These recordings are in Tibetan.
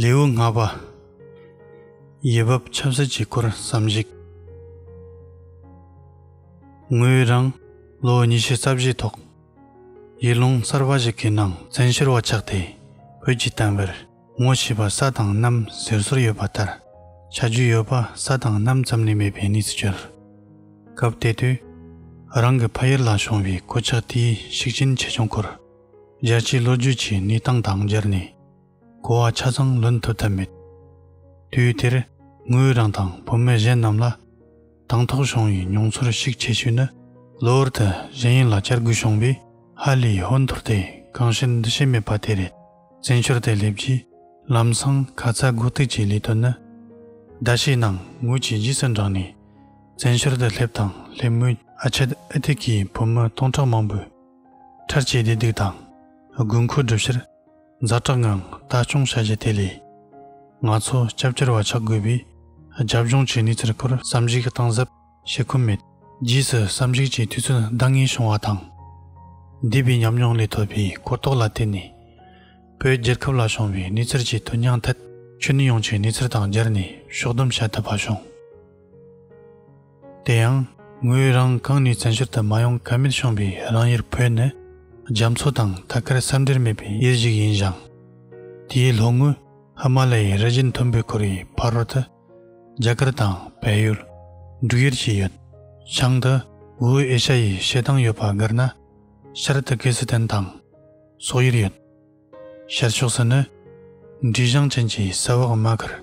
ལེའུ་ལྔ་པ། ཡེ་བབ་ཁྱབ་བསལ་གྱི་སྐོར་བསམ་གཞིག། ངོས་རང་ལོ་ཉི་ཤུ་རྩ་བཞིའི་ཐོག་ཡུལ་ལུང་གསར་པ་ཞིག་གི་ནང་བཙན་ཤོར་བ་ཆགས་ཏེ་བོད་ཀྱི་གཏམ་དཔེར་ངོ་ཤེས་པ་ས་དང་གནམ་ཟེར་སྲོལ་ཡོད་པ་ལྟར་ཆ་རྒྱུས་ཡོད་པ་ས་དང་གནམ་ཙམ་ལས་མེད་པའི་གནས་སུ་གྱུར། སྐབས་དེ་དུས་རང་གི་ཕ་ཡུལ་ལ་བྱུང་བའི་གོད་ཆགས་དེའི་ཤུགས་རྐྱེན་ཆེ་ཆུང་སྐོར་རྒྱལ་སྤྱིའི་ལོ་རྒྱུས་ཀྱི་གནས་སྟངས་དང་སྦྱར་ནས། གོ་བ་ཆ་ཚང་ལོན་ཐུབ་ཐབས་མེད། དུས་དེར་ངོས་རང་དང་བུ་མོ་གཞན་རྣམས་ལ་དང་ཐོག་བྱུང་བའི་མྱོང་ཚོར་ཞིག་བྱེད་ཤུལ་ནི། གློ་བུར་དུ་གཞན་ཡུལ་ལ་བསྐྱལ་དགོས་བྱུང་བའི་ཧ་ལའི་ཧོན་ཐོར་དེ་གང་ཕྱིར་འདུ་ཤེས་མེད་པ་དེ་རེད། བཙན་བྱོལ་དུ་སླེབས་རྗེས་ལམ་སང་ཁ་ཚ་དགོས་གཏུགས་ཀྱི་ལས་དོན་ནི། ཟླ་ཤས་ནང་ངོས་ཀྱིས་རྗེས་སུ་འབྲངས་ནས་བཙན་བྱོལ་དུ་སླེབས་དང་སླེབས་མོད། ཨ་ཆད་ཨི་ཐི་ཀའི་བུ་མོ་སྟོང་ཕྲག་མང་པོས་འཕྲལ་སྐྱེལ་བདེ་སྡུག་དང་དགོས་མཁོའི་སྒྲུབ་བྱར། ཛ་དྲག་ངང་ལྟ་སྐྱོང་བྱ་རྒྱུ་དེ་ལས། ང་ཚོ་སྐྱབས་གྱུར་བ་ཆགས་དགོས་པས། རྒྱབ་ལྗོངས་ཀྱི་གནས་ཚུལ་སྐོར་བསམ་གཞིག་གཏང་གཟབ་བྱེད་ཁོམ་མེད། རྗེས་སུ་བསམ་གཞིག་ཀྱི་དུས་ཚོད་འདང་ངེས་བྱུང་བ་དང། འདས་པའི་ཉམས་མྱོང་ལས་ཐོབ་པའི་གོ་རྟོགས་ལ་བརྟེན་ནས། བོད་རྒྱལ་ཁབ་ལ་བྱུང་བའི་གནས་ཚུལ་གྱི་དོན་སྙིང་ཐད་ཆོས་ནུས་ཡོངས་ཀྱི་གནས་ཚུལ་དང་སྦྱར་ནས་ཕྱོགས་བསྡོམས་བྱ་ཐུབ་པ་བྱུང། དེ་ཡང། ངོས་རང་གང་ནུས་བཙན་བྱོལ་དུ་མ་ཡོང་ག་མེད་བྱུང་བའི་རང་ཡུལ་བོད་ནི། རྒྱ་མཚོ་དང་ཐ་སྐར་ས་འབྲེལ་མེད་པའི་ཡུལ་ཞིག་ཡིན་ཞིང། དེའི་ལྷོ་ངོས་ཧི་མ་ལ་ཡའི་རི་བཞི་མཐོན་པོས་བསྐོར་བའི་ཕ་རོལ་དུ། རྒྱ་གར་དང་བལ་ཡུལ། འབྲུག་ཡུལ་བཅས་ཡོད། བྱང་དུ་ཝུའུ་ཨེ་ཤ་ཡའི་བྱེ་ཐང་ཡོད་པ་དགར་ན། ཤར་དུ་ཀི་སི་ཐན་དང། སོག་ཡུལ་ཡོད། ཤར་ཕྱོགས་སུ་ནི། འབྲི་གཞང་ཅན་གྱི་ས་འོག་རྨ་ཁར།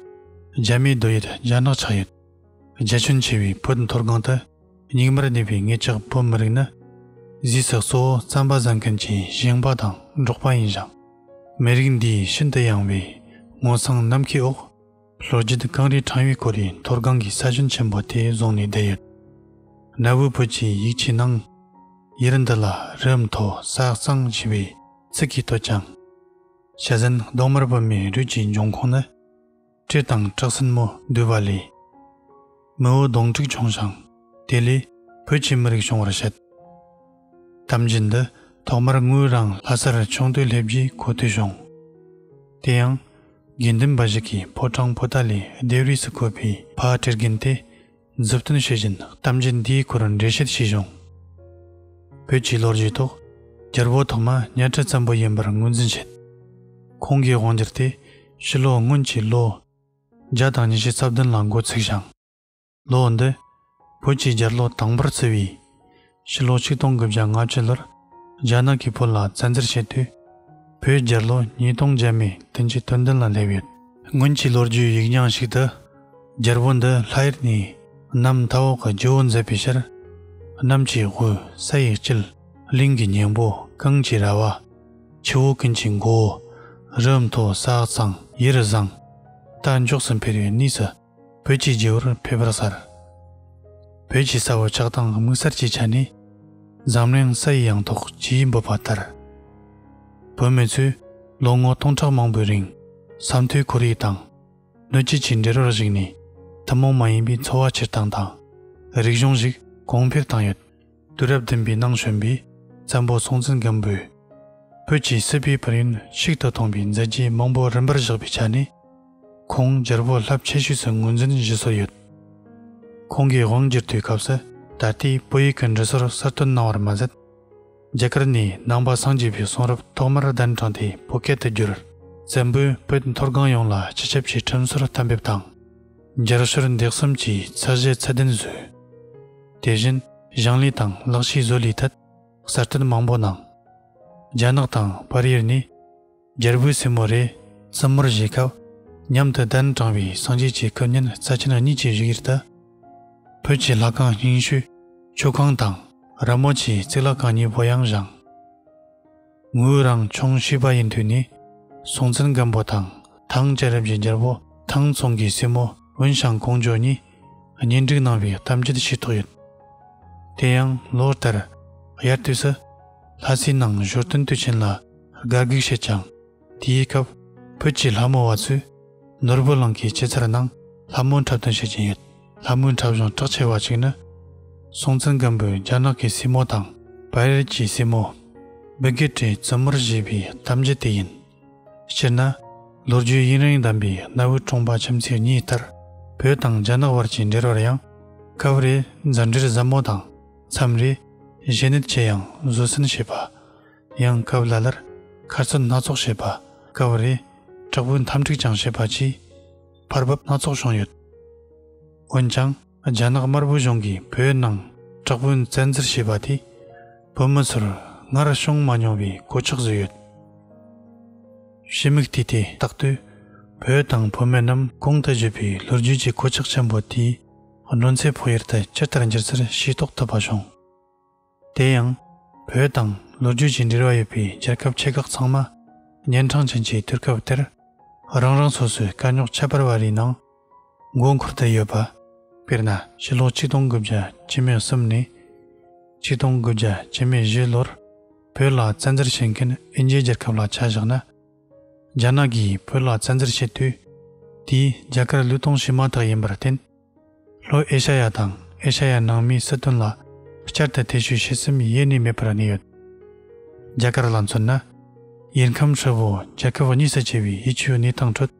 རྒྱ་མའི་རྡོ་ཡུལ་རྒྱ་ནག་ཆགས་ཡོད། རྒྱ་ཁྱོན་ཆེ་བའི་བོད་མཐོ་སྒང་དུ་སྙིགས་མར་གནས་པའི་ངེད་ཅག་བོད་མི་རིགས་ནི། ཟས་ཟགས་གཙོ་བོ་རྩམ་པ་བཟའ་མཁན་གྱི་ཞིང་པ་དང་འབྲོག་པ་ཡིན་ཞིང། མི་རིགས་འདིའི་ཤིན་ཏུ་ཡངས་བའི་ངོ་མཚང་ནམ་མཁའི་འོག་ལྷོ་རྒྱུད་ཀང་རིའི་འཕྲང་ཡུལ་སྐོར་ཡི་མཐོ་སྒང་གི་ས་ཁྱོན་ཆེན་པོ་དེ་བཟུང་ནས་བསྡད་ཡོད། གནའ་བོའི་བོད་ཀྱི་ཡིག་ཆའི་ནང། ཡུལ་འདི་ལ་རི་མཐོ་ས་གཙང་ཞེས་པའི་ཚིག་གིས་བསྟོད་ཀྱང། བྱ་ཟན་གདོང་དམར་བོད་མིའི་རུས་ཀྱི་འབྱུང་ཁུངས་ནི། སྤྲེལ་དང་བྲག་སྲིན་མོ་འདུས་པ་ལས། མི་བོ་གདོང་དྲུག་བྱུང་ཞིང་དེ་ལས། བོད་ཀྱི་མི་རིགས་བྱུང་བར་བཤད། གཏམ་རྒྱུད་འདི་ཐོག་མར་ངོས་རང་ལྷ་སར་ཆུང་དུས་སླེབས་རྗེས་གོ་ཐོས་བྱུང། དེ་ཡང། དགེ་འདུན་པ་ཞིག་གིས་ཕོ་བྲང་ཕོ་རྟ་ལས་ལྡེབས་རིས་སུ་བཀོད་པའི་ཕ་སྤྲེལ་རྒན་དེ། མཛུབ་སྟོན་བྱེད་བཞིན་གཏམ་རྒྱུད་འདིའི་སྐོར་འགྲེལ་བཤད་བྱས་བྱུང། བོད་ཀྱི་ལོ་རྒྱུས་ཐོག་རྒྱལ་པོ་ཐོག་མ་གཉའ་ཁྲི་ཙམ་པོ་ཡིན་པར་ངོས་འཛིན་བྱེད། ཁོང་གི་དབང་སྒྱུར་དེ་ཕྱི་ལོ་སྔོན་གྱི་ལོ་བརྒྱ་དང་ཉི་ཤུ་རྩ་བདུན་ལ་འགོ་ཚུགས་ཤིང། ལོ་འདི་བོད་ཀྱི་རྒྱལ་ལོ་དང་པོར་བརྩི་བས། ཕྱི་ལོ་ཆིག་སྟོང་དགུ་བརྒྱ་ང་བཅུ་ལོར་རྒྱ་ནག་གིས་བོད་ལ་བཙན་འཛུལ་བྱས་དུས། བོད་རྒྱལ་ལོ་ཉིས་སྟོང་བརྒྱད་མའི་དུས་མཇུག་སྟོན་ཟླ་ལ་སླེབས་ཡོད། སྔོན་གྱི་ལོ་རྒྱུས་ཡིག་རྙིང་ཞིག་ཏུ། རྒྱལ་པོ་འདི་ལྷ་ཡུལ་ནས་གནམ་མཐའ་འོག་གི་ཇོ་བོ་མཛད་པའི་ཕྱིར། གནམ་གྱི་དབུས་ས་ཡི་དཀྱིལ། གླིང་གི་སྙིང་པོ་ཀང་གྱི་ར་བ། ཆུ་བོ་ཀུན་གྱི་མགོ་བོ། རི་མཐོ་ས་གཙང་ཡི་རུ་བཟང། རྟ་མགྱོགས་སུ་འཕེལ་བའི་གནས་སུ། བོད་ཀྱི་རྗེ་བོར་ཕེབས་པར་གསལ། བོད་ཀྱི་ས་འོག་ཆགས་སྡང་དམིགས་བསལ་གྱི་ཆ་ནས། འཛམ་གླིང་ས་ཡི་ཡང་ཐོག་ཇི་ཡི་འབོད་པ་ལྟར། བོད་མི་ཚོས་ལོ་ངོ་སྟོང་ཕྲག་མང་པོའི་རིང་ས་མཐོའི་ཁོར་ཡུག་དང། སྣོད་བཅུད་ཀྱི་འབྲེལ་བར་གཞིགས་ནས་ཐུན་མོང་མ་ཡིན་པའི་འཚོ་བ་སྤྱིར་བཏང་དང། རིག་གཞུང་ཞིག་གོང་འཕེལ་བཏང་ཡོད། དུས་རབས་བདུན་པའི་ནང་བྱོན་པའི་བཙན་པོ་སྲོང་བཙན་སྒམ་པོས་བོད་ཀྱི་སྲིད་པའི་བར་ཡུན་ཤིག་ཏུ་ཐོངས་པའི་མཛད་རྗེས་མང་པོ་རིམ་པར་བཞག་པའི་ཆ་ནས། ཁོང་རྒྱལ་པོ་རླབས་ཆེ་ཤོས་སུ་ངོས་འཛིན་བཞེས་སྲོལ་ཡོད། ཁོང་གིས་དབང་བསྒྱུར་དུས་སྐབས་སུ་ད་ལྟའི་བོད་ཡིག་གི་འབྲི་སྲོལ་གསར་གཏོད་གནང་བར་མ་ཟད། རྒྱ་གར་ནས་ནང་པ་སངས་རྒྱས་པའི་གསུང་རབ་ཐོག་མར་གདན་དྲངས་ཏེ་བོད་སྐད་དུ་བསྒྱུར། བཙན་པོས་བོད་མཐོ་སྒང་ཡོངས་ལ་སྤྱི་ཁྱབ་ཀྱི་ཁྲིམས་སྲོལ་གཏན་འབེབས་དང། སྦྱར་གསོལ་འདེགས་གསུམ་གྱིས་ཚད་བཞི་ཚད་ལྡན་བཟོས། དེ་བཞིན་གཞང་ལས་དང་ལག་ཕྱིས་བཟོ་ལས་ཐད་གསར་གཏོད་མང་པོ་གནང། རྒྱ་ནག་དང་བར་ཡུལ་ནས་རྒྱལ་པོའི་སྲས་མོ་རེ་བཙུན་མོར་བཞེས་སྐབས་མཉམ་དུ་གདན་དྲངས་པའི་སངས་རྒྱས་ཀྱི་སྐུ་བརྙན་རྩ་ཆེན་གཉིས་ཀྱི་བཞུགས་ཡུལ་དུ། བོད་ཀྱི་ལྷ་ཁང་རྙིང་ཤོས་ཆོས་ཁང་དང་ར་མོ་ཆེའི་རྩིག་ལྷ་ཁང་གཉིས་པོ་ཡང་བཞེངས། ངོས་རང་ཆུང་བྱིས་པ་ཡིན་དུས་ནས་སྲོང་བཙན་སྒམ་པོ་དང་ཐང་རྒྱལ་རབས་ཀྱི་རྒྱལ་པོ་ཐང་ཚོང་གི་སྲས་མོ་ཝུན་ཞང་ཀོང་ཇོ་གཉིས་གཉེན་སྒྲིག་གནང་བའི་གཏམ་རྒྱུད་ཤེས་རྟོགས་ཡོད། དེ་ཡང་ལོ་ལྟར་དབྱར་དུས་སུ་ལྷ་སའི་ནང་བཞུར་སྟོན་དུས་ཆེན་ལ་དགའ་སྒུག་བྱེད་ཀྱང་དེའི་སྐབས་བོད་ཀྱི་ལྷ་མོ་བ་ཚོས་ནོར་བུ་གླིང་གི་སྐྱེད་ཚལ་ནང་ལྷ་མོ་འཁྲབ་སྟོན་བྱེད་ཀྱིན་ཡོད། ལྷ་མོའི་འཁྲབ་གཞུང་གྲགས་ཆེ་བ་ཞིག་ནི། སྲོང་བཙན་སྒམ་པོས་རྒྱ་ནག་གི་སྲིན་མོ་དང། བལ་རིལ་གྱི་སྲིན་མོ། སྦི་གེ་ཏྲའི་བཙུན་མོར་བཞེས་པའི་གཏམ་རྒྱུད་དེ་ཡིན། སྤྱིར་ན། ལོ་རྒྱུས་དབྱིངས་རིང་ལྡན་པའི་གནའ་བོའི་ཁྲོམ་པ་ཁྱིམ་མཚེས་གཉིས་ལྟར། བོད་དང་རྒྱ་ནག་བར་གྱི་འབྲེལ་བར་ཡང། སྐབས་རེ་མཛའ་འབྲེལ་ཟབ་མོ་དང། མཚམས་རེ་གཞས་ནད་ཆེ་ཡང་བཟོད་བསྲན་བྱེད་པ། ཡང་སྐབས་ལ་ལར་ཁ་རྩོད་སྣ་ཚོགས་བྱེད་པ། སྐབས་རེ་དྲག་པོའི་འཐམ་འཁྲུག་ཀྱང་བྱེད་པ་གྱིས། བར་བབ་སྣ་ཚོགས་བྱུང་ཡོད། འོན་ཀྱང་རྒྱ་ནག་དམར་པོའི་གཞུང་གིས་བོད་ནང་དྲག་པོའི་བཙན་འཛུལ་བྱས་པ་དེས་བོད་མི་ཚོར་སྔར་བྱུང་མ་མྱོང་བའི་གོད་ཆག་བཟོས་ཡོད། ཕྱི་མིག་བལྟས་ཏེ་བརྟག་དུས་བོད་དང་བོད་མི་རྣམས་གོང་དུ་བརྗོད་པའི་ལོ་རྒྱུས་ཀྱི་གོད་ཆག་ཆེན་པོ་དེའི་གནོན་འཚེ་ཕོག་ཡུལ་དུ་ཇི་ལྟར་འགྱུར་ཚུལ་ཤེས་རྟོགས་ཐུབ་པ་བྱུང། དེ་ཡང། བོད་དང་ལོ་རྒྱུས་ཀྱི་འབྲེལ་བ་ཡོད་པའི་རྒྱལ་ཁབ་ཆེ་ཁག་ཚང་མ། གཉན་འཕྲང་ཅན་གྱི་དུས་སྐབས་དེར། རང་རང་སོ་སོའི་དཀའ་རྙོག་ཁྱད་པར་བ་རེའི་ནང། མགོ་འཁོར་དུ་ཡོད་པ། དཔེར་ན། ཕྱི་ལོ་ཆིག་སྟོང་དགུ་བརྒྱ་ཇི་མོད་གསུམ་ནས། ཆིག་སྟོང་དགུ་བརྒྱ་ཇི་མོད་བཞི་ལོར། བོད་ལ་བཙན་འཛུལ་བྱེད་མཁན་ཨིན་ཇིའི་རྒྱལ་ཁབ་ལ་ཆ་བཞག་ན། རྒྱ་ནག་གིས་བོད་ལ་བཙན་འཛུལ་བྱེད་དུས། དེའི་རྒྱ་གར་ལུས་སྟོང་བྱེད་མ་ཐག་ཡིན་པར་བརྟེན། ལྷོ་ཨེ་ཤ་ཡ་དང་ཨེ་ཤ་ཡ་ནང་མིའི་སྲིད་དོན་ལ་བསྐྱར་དུ་ཐེ་བྱུས་བྱེད་སེམས་ཡེ་ནས་མེད་པར་གནས་ཡོད། རྒྱ་གར་ལ་མཚོན་ན། ཡེ་ཁམས་ཧྲིལ་བོ་རྒྱལ་ཁབ་གཉིས་སུ་ཕྱེ་བའི་ཡིད་ཆེས་གནས་སྟངས་ཁྲོད།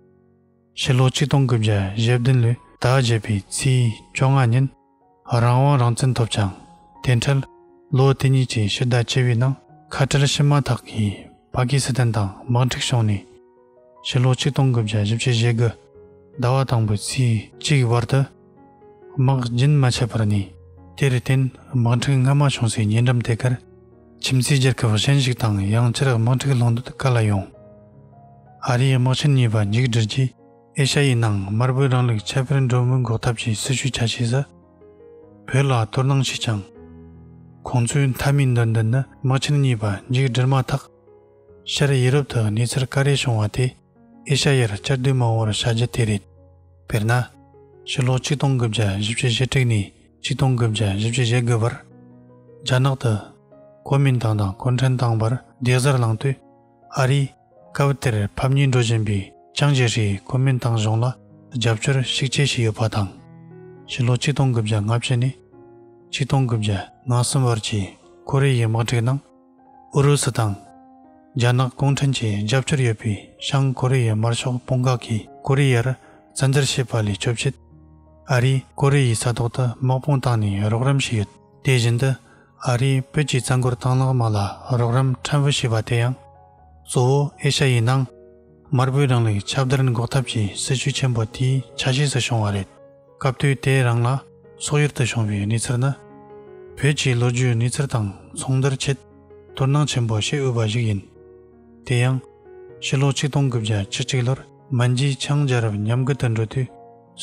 ཕྱི་ལོ་ཆིག་སྟོང་དགུ་བརྒྱ་ཞེ་བདུན་ལོའི་ཟླ་བརྒྱད་པའི་ཚེས་བཅོ་ལྔ་ཉིན་རང་དབང་རང་བཙན་ཐོབ་ཀྱང་དེ་འཕྲལ་ལོ་དེ་གཉིས་ཀྱི་ཕྱི་ཟླ་བཅུ་བའི་ནང་ཁ་བྲལ་ཕྱིན་མ་ཐག་གིས་པ་ཀི་སི་ཐན་དང་དམག་འཁྲུག་བྱུང་ནས། ཕྱི་ལོ་ཆིག་སྟོང་དགུ་བརྒྱ་བཞི་བཅུ་ཞེ་དགུ། ཟླ་བ་དང་པོའི་ཚེས་གཅིག་གི་བར་དུ། དམག་རྒྱུན་མ་ཆད་པར་ནས། དེར་བརྟེན་དམག་འཁྲུག་སྔ་མ་བྱུང་སའི་ཉེ་འགྲམ་དེ་གར། ཁྱིམ་མཚེས་རྒྱལ་ཁབ་གཞན་ཞིག་དང་ཡང་བསྐྱར་དམག་འཁྲུག་ལྷུང་འདོད་ག་ལ་ཡོང། ཨ་རིའི་དམག་ཆེན་གཉིས་པ་མཇུག་བསྒྲིལ་རྗེས་ཨེ་ཤ་ཡའི་ནང་དམར་པོའི་རང་ལུགས་ཁྱད་པར་འགྲོ་མུས་འགོག་ཐབས་ཀྱི་སྲི་ཞུ་བྱ་ཤེས་ས། བོད་ལ་བསྟོད་སྣང་བྱས་ཀྱང། ཁོང་ཚོའི་མཐའ་མའི་འདོད་འདུན་ནི་དམག་ཆེན་གཉིས་པ་མཇུག་བསྒྲིལ་མ་ཐག། ཤཱ་རིའི་ཡི་རབས་དུ་ནི་ཚེར་དཀར་རིལ་བྱུང་བ་དེ་ཨེ་ཤ་ཡར་བཅར་བསྡུས་མང་བོར་བྱ་རྒྱུ་དེ་རེད། དཔེར་ན། ཕྱི་ལོ་ཆིག་སྟོང་དགུ་བརྒྱ་བཞི་བཅུ་ཞེ་དྲུག་ནས་ཆིག་སྟོང་དགུ་བརྒྱ་བཞི་བཅུ་ཞེ་དགུ་བར། རྒྱ་ནག་ཏུ། གོ་མིན་ཏང་དང་གུང་ཁྲན་ཏང་བར་རྡེག་གཟར་བསླངས་དུས། ཨ་རིས། སྐབས་དེར་ཕབ་གཉིས་འགྲོ་བཞིན་པའི་ཅང་ཇེ་ཧྲིའི་གོ་མིན་ཏང་གཞུང་ལ་རྒྱབ་སྐྱོར་ཤུགས་ཆེ་བྱས་ཡོད་པ་དང། ཕྱི་ལོ་ཆིག་སྟོང་དགུ་བརྒྱ་ལྔ་བཅུ་ནས་ཆིག་སྟོང་དགུ་བརྒྱ་ང་གསུམ་བར་གྱི་ཁོ་རེ་ཡའི་དམག་འཁྲུག་ནང་ཨུ་རུ་སུ་དང་རྒྱ་ནག་གུང་ཁྲན་གྱི་རྒྱབ་སྐྱོར་ཡོད་པའི་བྱང་ཀོ་རི་ཡའི་དམར་ཤོག་དཔུང་ཁག་གིས་ཀོ་རི་ཡར་བཙན་འཛུལ་བྱས་པ་ལས་སྐྱོབ་ཆེད། ཨ་རིས་ཀོ་རི་ཡའི་ས་ཐོག་ཏུ་དམག་དཔུང་བཏང་ནས་རོགས་རམ་བྱས་ཡོད། དེ་བཞིན་དུ་ཨ་རིས་བོད་ཀྱི་རྩ་འཁོར་དང་ལག་དམག་ལ་རོགས་རམ་ཕྲན་བུ་བྱས་པ་དེ་ཡང། གཙོ་བོ་ཨེ་ཤ་ཡའི་ནང་དམར་པོའི་རིང་ལུགས་ཁྱབ་བརྡལ་འགོག་ཐབས་ཀྱི་སྲིད་བྱུས་ཆེན་པོ་དེའི་ཆ་ཤས་སུ་བྱུང་བ་རེད། སྐབས་དུས་དེའི་རང་ལ་སོག་ཡུལ་དུ་བྱུང་བའི་གནས་ཚུལ་ནི། བོད་ཀྱི་ལོ་རྒྱུས་གནས་ཚུལ་དང་མཚུངས་བསྡུར་ཆེད་དོ་སྣང་ཆེན་པོ་བྱེད་འོས་པ་ཞིག་ཡིན། དེ་ཡང། ཕྱི་ལོ་ཆིག་སྟོང་དགུ་བརྒྱ་བཅུ་གཅིག་ལོར་མན་ཇིའི་ཆའང་རྒྱལ་རབས་ཉམས་རྒུད་དུ་འགྲོ་དུས་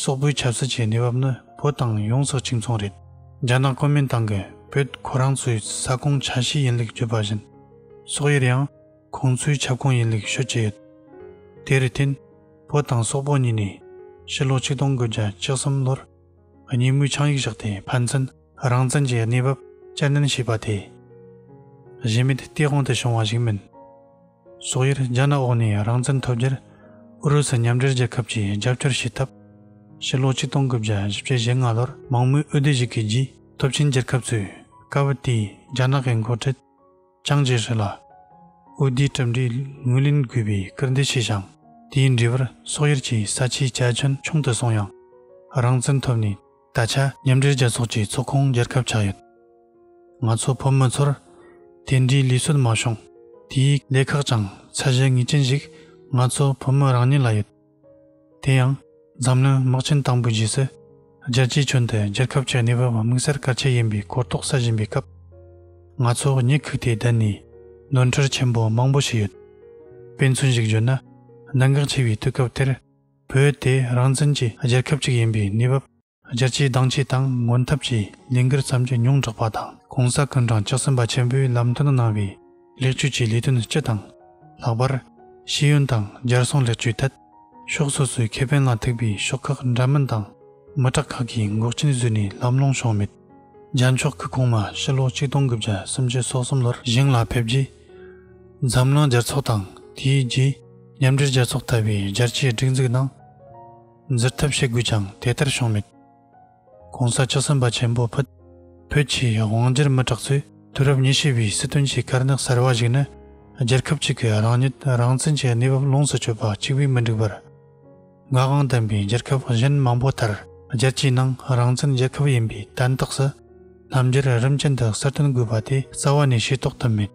སོག་པོའི་ཆབ་སྲིད་ཀྱི་གནས་བབ་ནི་བོད་དང་ཡོངས་སུ་གཅིག་མཚུངས་རེད། རྒྱ་ནག་གོ་མིན་ཏང་གིས་བོད་ཁོ་རང་ཚོའི་ས་ཁོངས་ཆ་ཤས་ཡིན་ལུགས་བརྗོད་པ་བཞིན་སོག་ཡུལ་ཡང། ཁོང་ཚོའི་ཁྱབ་ཁོངས་ཡིན་ལེགས་ཤོས་བཅས་ཡོད། དེར་བརྟེན། བོད་དང་སོག་པོ་གཉིས་ནས་ཕྱི་ལོ་ཆིག་སྟོང་དགུ་བརྒྱ་བཅུ་གསུམ་ལོར་གཉིས་མོས་ཆིངས་ཡིག་བཞག་སྟེ་ཕན་ཚུན་རང་བཙན་གྱི་གནས་བབ་བསྐྱར་ནན་བྱས་པ་དེ། གཞི་མེད་སྟེས་དབང་དུ་བྱུང་བ་ཞིག་མིན། སོག་ཡུལ་རྒྱ་ནག་འོག་ནས་རང་བཙན་ཐོབ་རྒྱུར་ཨུ་རུ་སུ་མཉམ་འབྲེལ་རྒྱལ་ཁབ་ཀྱིས་རྒྱབ་སྐྱོར་བྱས་སྟབས། ཕྱི་ལོ་ཆིག་སྟོང་དགུ་བརྒྱ་བཞི་བཅུ་ཞེ་ལྔ་ལོར་མང་མོས་ཨུ་སྡེ་ཞིག་གི་རྗེས་ཐོབ་ཆིངས་བསྒྱུར་སྐབས་ཚོས་དཀའ་བུ་དེས་རྒྱ་ནག་གི་མགོ་ཁྲིད། ཅང་ཅེ་ཧྲི་ལ་ཨུ་ལྡི་གྲུབ་འབྲས་ངོས་ལེན་དགོས་པའི་སྐུལ་འདེད་བྱས་ཤིང་དེའི་འབྲས་བུར་སོག་ཡུལ་གྱི་ས་ཆའི་བཅའ་ཁྱོན་ཆུང་དུ་སོང་ཡང། རང་བཙན་ཐོབ་ནས་ད་ཆ་མཉམ་འབྲེལ་རྒྱལ་ཚོགས་ཀྱི་ཚོགས་ཁོངས་རྒྱལ་ཁབ་ཆགས་ཡོད། ང་ཚོ་བོད་མི་ཚོར་དེ་འདྲའི་ལུས་སྲོལ་མ་བྱུང། དེའི་ལས་ཁག་ཀྱང་ཚད་གཞི་ངེས་ཅན་ཞིག་ང་ཚོ་བོད་མི་རང་ཉིད་ལ་ཡོད། དེ་ཡང། འཛམ་གླིང་དམག་ཆེན་དང་པོའི་རྗེས་སུ། རྒྱལ་སྤྱིའི་ཁྱོན་དུ་རྒྱལ་ཁབ་ཀྱི་གནས་བབ་དམིགས་བསལ་གལ་ཆེ་ཡིན་པའི་གོ་རྟོགས་སད་བཞིན་པའི་སྐབས། ང་ཚོ་གཉིད་ཁུག་སྟེ་བསྡད་ནས། ནོར་འཁྲུལ་ཆེན་པོ་མང་པོ་ཞིག་ཡོད། དཔེ་མཚོན་ཞིག་བརྗོད་ན། གནད་འགག་ཆེ་བའི་དུས་སྐབས་དེར། བོད་དེ་རང་བཙན་གྱི་རྒྱལ་ཁབ་ཅིག་ཡིན་པའི་གནས་བབ། རྒྱ་ཆེའི་གདང་ཆས་དང་ངོ་འཐབ་ཀྱི་ལས་འགུལ་བརྩམས་རྒྱུ་ཉུང་དྲགས་པ་དང་གོང་ས་སྐུ་འབྲང་ཆགས་ཟིན་པ་ཆེན་པོའི་ལམ་སྟོན་གནང་བའི་ལེགས་བཅོས་ཀྱི་ལས་དོན་སྤྱི་དང། ལྷག་པར། ཤེས་ཡོན་དང་སྦྱར་སྲུང་ལེགས་བཅོས་ཐད། ཕྱོགས་སོ་སོའི་ཁེ་ཕན་ལ་ཐུག་པའི་ཤོག་ཁག་འདྲ་མིན་དང་མི་དྲག་ཁག་གིས་འགོག་རྐྱེན་བཟོས་ནས་ལམ་ལྷོང་བྱུང་མེད། རྒྱ་མཆོག་སྐུ་གོང་མ་ཕྱི་ལོ་ཆིག་སྟོང་དགུ་བརྒྱ་སུམ་ཅུ་སོ་གསུམ་ལོར་ཞིང་ལ་ཕེབས་རྗེས། འཛམ་གླིང་རྒྱལ་ཚོགས་དང་དེའི་རྗེས་མཉམ་འབྲེལ་རྒྱལ་ཚོགས་ལྟ་བུའི་རྒྱལ་སྤྱིའི་སྒྲིག་འཛུགས་ནང། འཛིར་ཐབས་བྱེད་དགོས་ཀྱང་དེ་ལྟར་བྱུང་མེད། གོང་ས་བཅུ་གསུམ་པ་ཆེན་པོ་ཕུད། བོད་ཀྱི་དབང་སྒྱུར་མི་དྲག་ཚོས་དུས་རབས་ཉི་ཤུ་པའི་སྲིད་དོན་གྱི་དཀར་ནག་གསར་བ་ཞིག་ནི། རྒྱལ་ཁབ་གཅིག་གི་རང་ཉིད་རང་བཙན་གྱི་གནས་བབ་ལོངས་སུ་སྤྱོད་པ་གཅིག་པུས་མི་འགྲིག་པར། ངག་དབང་བསྟན་པའི་རྒྱལ་ཁབ་གཞན་མང་པོ་ལྟར་རྒྱལ་སྤྱིའི་ནང་རང་བཙན་རྒྱལ་ཁབ་ཡིན་པའི་དན་རྟགས་སུ། རྣམ་འགྱུར་རིམ་ཅན་དུ་གསར་སྟོན་དགོས་པ་དེ་རྩ་བ་ནས་ཤེས་རྟོགས་ཐུབ་མེད།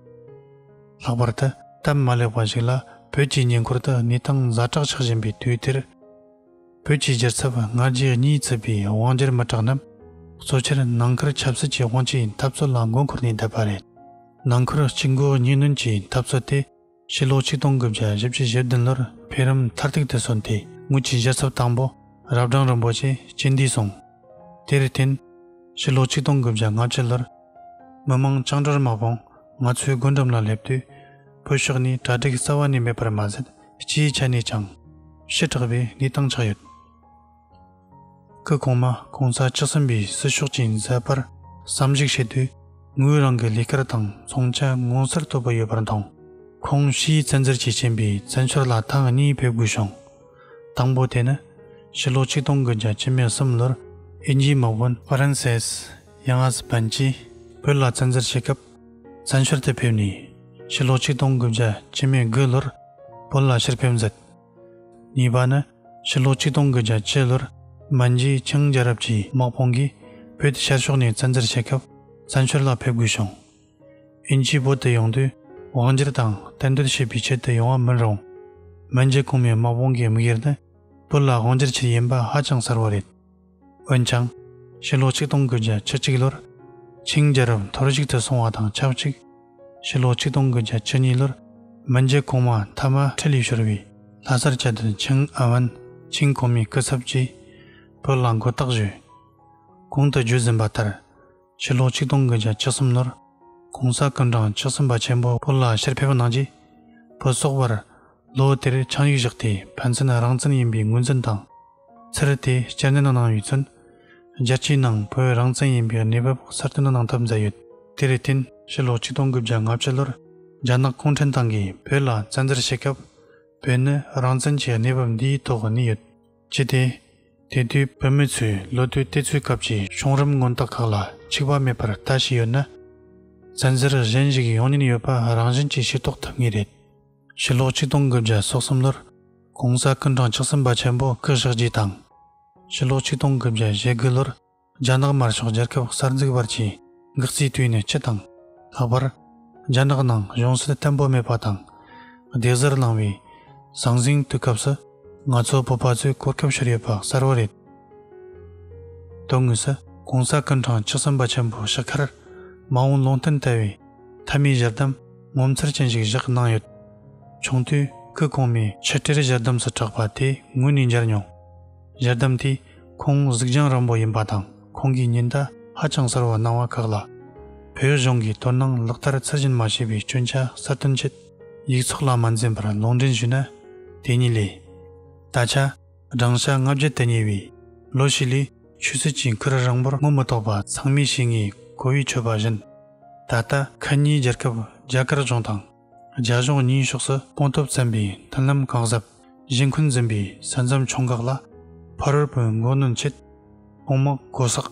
ལྷག་པར་དུ་སྟབས་མ་ལེགས་པ་ཞིག་ལ་བོད་ཀྱི་ཉེ་འཁོར་དུ་གནས་སྟངས་ཛ་དྲག་ཆགས་བཞིན་པའི་དུས་དེར། བོད་ཀྱི་རྒྱལ་ཚབ་སྔ་རྗེས་གཉིས་བཙུད་པའི་དབང་སྒྱུར་མི་དྲག་རྣམས་གཙོ་ཆེར་ནང་ཁུལ་ཆབ་སྲིད་ཀྱི་དབང་ཆའི་འཐབ་རྩོད་ལ་མགོ་འཁོར་ནས་བསྡད་པ་རེད། ནང་ཁུལ་གཅིག་མགོ་གཉིས་གནོན་གྱི་འཐབ་རྩོད་དེ་ཕྱི་ལོ་ཆིག་སྟོང་དགུ་བརྒྱ་བཞི་བཅུ་བཞི་བདུན་ལོར་འཕེལ་རིམ་མཐར་ཐུག་ཏུ་སོན་ཏེ་དངུལ་གྱི་རྒྱལ་ཚབ་དང་པོ་རབ་འབྲང་རིན་པོ་ཆེ་སྤྱི་འདུས་སོང། དེར་བརྟེན། ཕྱི་ལོ་ཆིག་སྟོང་དགུ་བརྒྱ་ང་བཅུ་ལོར། མི་མང་བཅིངས་འགྲོལ་དམག་དཔུང་ང་ཚོའི་སྒོ་འགྲམ་ལ་སླེབས་དུས། བོད་ཕྱོགས་ནས་གྲ་སྒྲིག་གསར་བ་ནི་མེད་པར་མ་ཟད་སྤྱིའི་ཆ་ནས་ཀྱང། ཞི་དྲག་པའི་གནས་སྟངས་ཆགས་ཡོད། སྐུ་གོང་མ་གོང་ས་བཅུ་གསུམ་པའི་སྲི་ཞུགས་ཀྱི་མཛད་པར་བསམ་གཞིགས་བྱས་དུས། ངོས་རང་གི་ལས་ཀར་དང་མཚུངས་ཆ་མངོན་གསལ་དོད་པོ་ཡོད་པར་མཐོང། ཁོང་ཕྱིའི་བཙན་འཛུལ་གྱིས་རྐྱེན་པས་བཙན་བྱོལ་ལ་ཐེངས་གཉིས་ཕེབས་དགོས་བྱུང། དང་པོ་དེ་ནི། ཕྱི་ལོ་ཆིག་སྟོང་དགུ་བརྒྱ་ཅུ་མེད་གསུམ་ལོར་ཨིན་ཇིའི་དམག་དཔོན། Francis། དབྱང་ཨར་སི་པན་གྱིས་བོད་ལ་བཙན་འཛུལ་བྱེད་སྐབས་བཙན་བྱོལ་དུ་ཕེབས་ནས་ཕྱི་ལོ་ཆིག་སྟོང་དགུ་བརྒྱ་ཅི་མའི་དགུ་ལོར་བོད་ལ་ཕྱིར་ཕེབས་མཛད། གཉིས་པ་ནི་ཕྱི་ལོ་ཆིག་སྟོང་དགུ་བརྒྱ་བཅུ་ལོར་མན་ཇི་ཆིང་རྒྱལ་རབས་ཀྱི་དམག་དཔུང་གིས་བོད་དེ་ཤར་ཕྱོགས་ནས་བཙན་འཛུལ་བྱེད་སྐབས་བཙན་བྱོལ་ལ་ཕེབས་དགོས་བྱུང། དབྱིན་ཇིས་བོད་དུ་ཡོང་དུས་དབང་སྒྱུར་དང་གཏན་སྡོད་བྱེད་པའི་ཆེད་དུ་ཡོང་བ་མིན་རུང། མན་ཇི་གོང་མའི་དམག་དཔུང་གི་དམིགས་ཡུལ་ནི་བོད་ལ་དབང་སྒྱུར་ཆེད་ཡིན་པ་ཧ་ཅང་གསལ་བོ་རེད། འོན་ཀྱང། ཕྱི་ལོ་ཆིག་སྟོང་དགུ་བརྒྱ་ཆུ་གཅིག་ལོར། ཆིང་རྒྱལ་རབས་འཐོར་བཤིག་ཏུ་སོང་བ་དང་ཆབས་ཅིག། ཕྱི་ལོ་ཆིག་སྟོང་དགུ་བརྒྱ་ཆུ་གཉིས་ལོར། མི་འཇེ་གོང་མ་དྷ་རྨ་ཁྲི་ལས་ཤོར་བའི་ལྷ་སར་བསྐྱལ་དུས་ཆིང་ཨན་ཝན་ཆིང་གོང་མའི་སྐུ་ཚབ་ཀྱིས། བོད་ལ་མགོ་བཏགས་བཞུགས། གོང་དུ་བརྗོད་ཟིན་པ་ལྟར། ཕྱི་ལོ་ཆིག་སྟོང་དགུ་བརྒྱ་ཆ་གསུམ་ནོར ྋགོང་ས ྋསྐྱབས་མགྲོན་མཆོག་སུམ་པ་ཆེན་པོ་བོད་ལ་ཕྱིར་ཕེབས་གནང་རྗེས། བོད་སོག་བར་ལོ་དེར་ཆང་ཡིག་བཞག་སྟེ་ཕན་ཚུན་རང་བཙན་ཡིན་པའི་ངོས་འཛིན་དང། ཚུར་དེ་སྤྱིར་འདི་ན་གནང་ཡོད་ཚུལ། རྒྱལ་སྤྱིའི་ནང་བོད་རང་བཙན་ཡིན་པའི་གནས་བབ་གསར་གཏོད་གནང་ཐབས་མཛད་ཡོད། དེར་བརྟེན་ཕྱི་ལོ་ཆིག་སྟོང་དགུ་བརྒྱ་ང་བཅུ་ལོར་རྒྱ་ནག་གུང་ཁྲན་ཏང་གིས་བོད་ལ་བཙན་འཛུལ་བྱེད་སྐབས། བོད་ནི་རང་བཙན་གྱི་གནས་བབ་འདིའི་ཐོག་གནས་ཡོད། ཅི་སྟེ། དེ་དུས་བོད་མི་ཚོས་ལོ་དུས་བལྟས་ཚུལ་སྐབས་ཀྱི་བྱུང་རིམ་མངོན་རྟགས་ཁག་ལ་འཆིག་པ་མེད་པར་ལྟ་བཞིན་ཡོད་ན། བཙན་འཛུལ་གཞན་ཞིག་ཡོང་ཉེན་ཡོད་པ་རང་བཞིན་གྱིས་ཤེས་རྟོགས་ཐུབ་ངེས་རེད། ཕྱི་ལོ་ཆིག་སྟོང་དགུ་བརྒྱ་སོ་གསུམ་ལོར ྋགོང་ས ྋསྐུ་མགྲོན་ཆགས་སྲིན་པ་ཆེན་པོ་སྐུ་བཞག་རྗེས་དང། ཕྱི་ལོ་ཆིག་སྟོང་དགུ་བརྒྱ་ཞེ་དགུ་ལོར་རྒྱ་ནག་དམར་ཤོག་རྒྱལ་ཁབ་གསར་འཛུགས་བར་གྱི་འགག་རྩའི་དུས་ནས་སྤྱི་དང། ལྷག་པར། རྒྱ་ནག་ནང་གཞུང་སྲིད་བརྟན་པོ་མེད་པ་དང། བདེ་གཟར་ལངས་པའི་ཟང་ཟིང་དུས་སྐབས་སུ། ང་ཚོ་བོད་པ་ཚོས་གོ་སྐབས་ཤོར་ཡོད་པ་གསལ་བོ་རེད། དོན་དངོས་སུ། གོང་ས་སྐུ་འཕྲང་ཆགས་སྲིན་པ་ཆེན་པོ་ཞི་ཁར། མ་འོངས་ལུང་བསྟན་དལ་བའི་མཐའ་མའི་གཞི་གདམས་ངོ་མཚར་ཅན་ཞིག་བཞག་གནང་ཡོད། ཆུང་དུས་སྐུ་གོང་མའི་ཆིག་སྒྲིལ་གཞི་གདམས་སུ་གྲགས་པ་དེ་དངོས་ནས་མཇལ་མྱོང། ལྗགས་བསྡམས་དེ་ཁོང་གཟུགས་རྒྱང་རིང་པོ་ཡིན་པ་དང་ཁོང་གིས་ཉིན་ལྟར་ཧ་ཅང་གསར་བར་སྣང་བ་ཁག་ལ། བོད་གཞུང་གིས་དོ་སྣང་ལག་བསྟར་ཚད་གཞིར་མ་བྱས་པའི་སྐྱོན་ཆ་གསར་སྟོན་ཆེད་ཡིག་ཚོགས་ལ་མ་འཛེམས་པར་ལུང་འདྲེན་ཞུས་ན། དེ་ཉིད་ལས། ད་ཆ་བགྲང་བྱ་ལྔ་བརྒྱ་དུ་ཉེ་བའི་ལོ་ཞིག་ལས་ཆོས་སྲིད་ཀྱི་འཁུར་རིང་པོར་རྔོ་མི་ཐོགས་པ་ཚང་མས་ཤེས་ངེས་གོ་བས་ཆོས་པ་གཞན་ད་ལྟ་ཁ་ཉིན་རྒྱལ་ཁབ་རྒྱ་གར་གཞུང་དང། རྒྱ་གཞུང་གཉིས་ཕྱོགས་སུ་སྤུངས་སྟོབས་བཙན་པོའི་མཐུན་ལམ་གང་ཟབ་བཞེས་འཁོན་འཛིན་པའི་ས་མཚམས་མཆོང་འགག་ལ་ཕ་རོལ་པོའི་མགོ་གནོན་ཆེད་དཔུང་དམག་སྒོ་བསགས།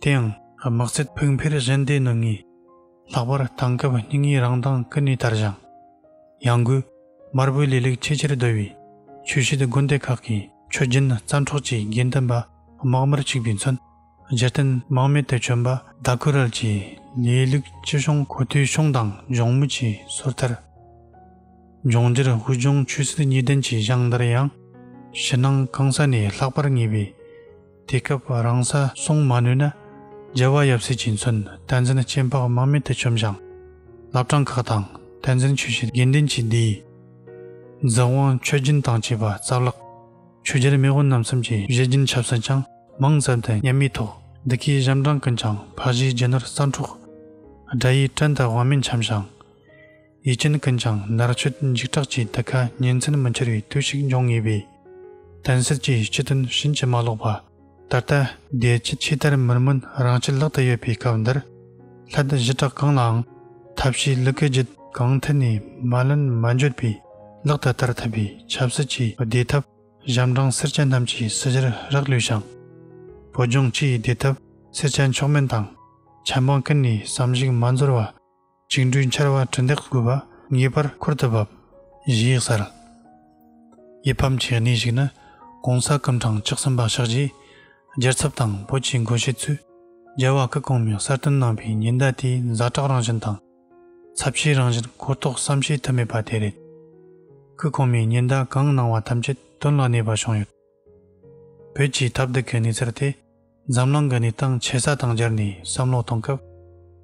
དེ་ཡང་དམག་རྩེད་ཕུགས་འཕེར་གཞན་སྡེ་ནུ་ངའི་ལྷག་པར་བཏང་སྐབས་སྙིང་ཉེའི་རང་མདངས་ཀུན་ནས་དར་ཞིང། ཡང་སྒོས་དམར་པོའི་ལས་ལེགས་ཆེས་ཆེར་བརྡོལ་བས་ཆོས་བྱེད་དགོན་སྡེ་ཁག་གི་ཆོས་རྒྱུན་རྩ་འཕྲོག་བྱེད་དགེ་འདུན་པ་དམག་དམར་ཆིག་པའི་མཚོན། རྗེ་བསྟན་དམག་མི་སྟེ་བྱོན་པ་ཟླ་ཀུ་རལ་གྱིས་ལིའི་ལུགས་སྤྱི་གཞུང་གོ་ཐོའི་གཞུང་དང་ལྗོངས་མུ་ཁྱི་སོར་ཐར། ལྗོངས་རྒྱུར་དབུས་ལྗོངས་ཆོས་སྲིད་གཉིས་ལྡན་གྱི་གཞང་དར་ཡང། ཕྱི་ནང་གང་ས་ནས་ལྷག་པར་ངེས་པས། དེ་སྐབས་རང་ས་སྲུང་མ་ནུས་ན། རྒྱལ་བ་ཡབ་སྲས་ཀྱིས་མཚོན་བསྟན་འཛིན་སྐྱེ་འཕགས་དམག་མི་སྟེ་བྱོན་ཞིང། བླ་བྲང་ཁག་དང་བསྟན་འཛིན་ཆོས་བྱེད་དགེ་འདུན་གྱི་སྡེའི། རྫོགས་དབང་མཆོད་སྦྱིན་དང་བཅས་པ་རྩ་བརླགས། ཆོས་རྒྱལ་མེས་དབོན་རྣམས་མཚམས་ཀྱི་གཞས་སྦྱིན་ཆབ་སྲིད་ཀྱང་མང་ཙམ་དེ་ཉམས་མི་ཐོག་འདི་གའི་གཞམ་གྲངས་ཀུན་ཀྱང་འཕགས་བཞིའི་རྒྱལ་ནོར་གསང་འཕྲོག། དགྲ་ཡི་བཀྲན་དང་དབང་མེད་འཁྱམས་ཤིང། ཡིད་ཅན་ཀུན་ཀྱང་ནར་ཆུད་འཇིགས་སྐྲག་ཀྱིས་འདི་ག་ཉིན་མཚན་མི་འཁྱོལ་བའི་དུས་ཤིག་འབྱུང་ངེས་པས། དོན་སེལ་གྱི་སྤྱི་དོན་བྱིན་གྱིས་མ་རློག་པ། ད་ལྟ། བདེ་སྐྱིད་ཆེས་དར་མུར་མོན་རང་ཆས་ལག་ཏུ་ཡོད་པའི་སྐབས་འདིར། ལྷ་སྡེ་བཞི་གྲགས་གང་ལའང་ཐབས་ཤེས་ལུ་གུ་རྒྱུད་གང་ཐད་ནས་མ་ལོན་མ་འགྱོད་པའི་ལག་ཏུ་བསྟར་ཐུབ་པའི་ཆབ་སྲིད་ཀྱི་བདེ་ཐབས་གཞམ་གྲངས་སེར་སྐྱ་རྣམས་ཀྱི་སྲིད་གཞིར་རག་ལུས་ཤིང། བོད་ལྗོངས་སྤྱིའི་བདེ་ཐབས་སེར་སྐྱ་མཆོག་དམན་དང། ཆབ་འབངས་ཀུན་ནས་བསམ་གཞིགས་མ་འཛོར་བ། བཅིངས་འགྲོལ་འཕྱར་བ་གྲི་འདེགས་དགོས་པ་ངེས་པར་འཁུར་དུ་བབ། གཞི་ཡིག་གསར། ཡིད་ཕམ་གྱི་གནས་ཤིག་ནི ྋགོང་ས ྋསྐུ་ཕྲེང་བཅུ་གསུམ་པ་ཕྱག་རྗེས་རྒྱལ་ཚབ་དང་བོད་ཀྱི་འགོ་བཤད་ཚོས་རྒྱལ་བ་སྐུ་གོང་མས་གསར་བཏོན་གནང་པའི་ཉེན་བརྡ་དེའི་མཛའ་གྲགས་རང་བཞིན་དང། ཚབས་ཆེའི་རང་བཞིན་གོ་རྟོགས་སམ་ཤེས་ཐུབ་མེད་པ་དེ་རེད། སྐུ་གོང་མས་ཉེན་བརྡ་གང་གནང་བ་ཐམས་ཅད་དོན་ལ་གནས་པ་བྱུང་ཡོད། བོད་ཀྱི་ཐབས་སྡུག་གི་གནས་ཚུལ་དེ་འཛམ་གླིང་གི་གནས་སྟངས་ཆེ་ས་དང་སྦྱར་ནས་བསམ་བློ་གཏོང་སྐབས་